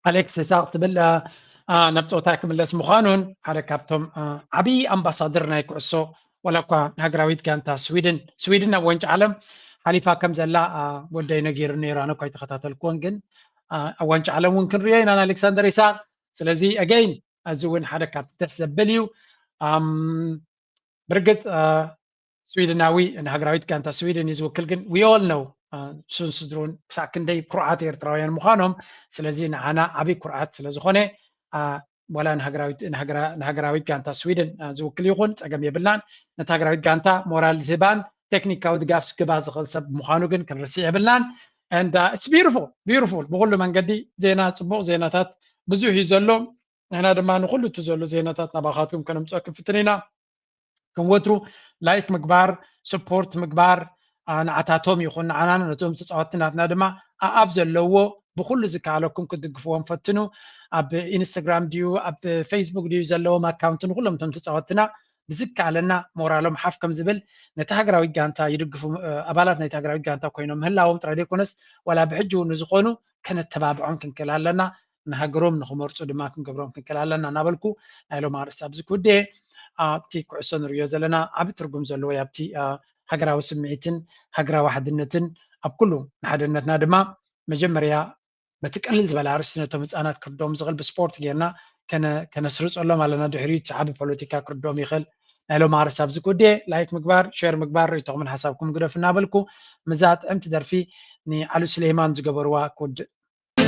ኣሌክስ ኢሳቅ ትብል ናብ ፀወታ ክምለስ ምዃኑን ሓደ ካብቶም ዓብዪ ኣምባሳደር ናይ ኩዕሶ ዋላ እኳ ንሃገራዊት ጋንታ ስዊድን ስዊድን ናብ ዋንጫ ዓለም ሓሊፋ ከም ዘላ ወደይ ነጊሩ ነይሩ ኣነ እኳ ይተኸታተልኩዎን ግን ኣብ ዋንጫ ዓለም እውን ክንሪኦ ኢና ንኣሌክሳንደር ኢሳቅ ስለዚ ኣገይን እዚ እውን ሓደ ካብቲ ደስ ዘብል እዩ ብርግፅ ስዊድናዊ ንሃገራዊት ጋንታ ስዊድን እዩ ዝውክል ግን ዊ ኦል ነው ንሱን ስድሩን ክሳብ ክንደይ ኩርዓት ኤርትራውያን ምዃኖም ስለዚ ንዓና ዓብይ ኩርዓት ስለ ዝኾነ ዋላ ንሃገራዊት ጋንታ ስዊድን ዝውክል ይኹን ፀገም የብልናን ነቲ ሃገራዊት ጋንታ ሞራል ዝህባን ቴክኒካዊ ድጋፍ ስክባ ዝኽእል ሰብ ምዃኑ ግን ክንርስዕ የብልናን ንዳ ኢትስ ቢዩቲፉል ቢዩቲፉል ብኩሉ መንገዲ ዜና ፅቡቅ ዜናታት ብዙሕ እዩ ዘሎ ንሕና ድማ ንኩሉ እቲ ዘሎ ዜናታት ናባኻትኩም ከነምፅኦ ክንፍትን ኢና ከም ወትሩ ላይክ ምግባር ስፖርት ምግባር ንዓታቶም ይኹን ንዓና ነቶም ተፃወትቲ ናትና ድማ ኣኣብ ዘለዎ ብኩሉ ዝከኣለኩም ክትድግፍዎም ፈትኑ ኣብ ኢንስታግራም ድዩ ኣብ ፌስቡክ ድዩ ዘለዎም ኣካውንቲ ንኩሎም እቶም ተፃወትትና ብዝከኣለና ሞራሎም ሓፍ ከም ዝብል ነቲ ሃገራዊ ጋንታ ይድግፉ ኣባላት ናይቲ ሃገራዊ ጋንታ ኮይኖም ምህላዎም ጥራይ ዘይኮነስ ዋላ ብሕጂ እውን ንዝኾኑ ከነተባብዖም ክንክእል ኣለና ንሃገሮም ንክመርፁ ድማ ክንገብሮም ክንክእል ኣለና እናበልኩ ናይ ሎም ኣርእስቲ ኣብዚ ክውድኤ ኣብቲ ኩዕሶ ንርእዮ ዘለና ዓብ ትርጉም ዘለዎ ዩ ኣብቲ ሃገራዊ ስምዒትን ሃገራዊ ሓድነትን ኣብ ኩሉ ንሓደነትና ድማ መጀመርያ በቲ ቀልል ዝበለ ኣርእስቲ ነቶም ህፃናት ክርድኦም ዝኽእል ብስፖርት ጌርና ከነስርፀሎም ኣለና ድሕሪኡ እቲ ዓብ ፖለቲካ ክርድኦም ይኽእል ናይ ሎም ኣርእስቲ ኣብዚ ክውድኤ ላይክ ምግባር ሸር ምግባር ርእቶኹምን ሓሳብኩም ግደፍ እናበልኩ ምዛ ጥዕምቲ ደርፊ ንዓሉ ስሌማን ዝገበርዋ ክውድእ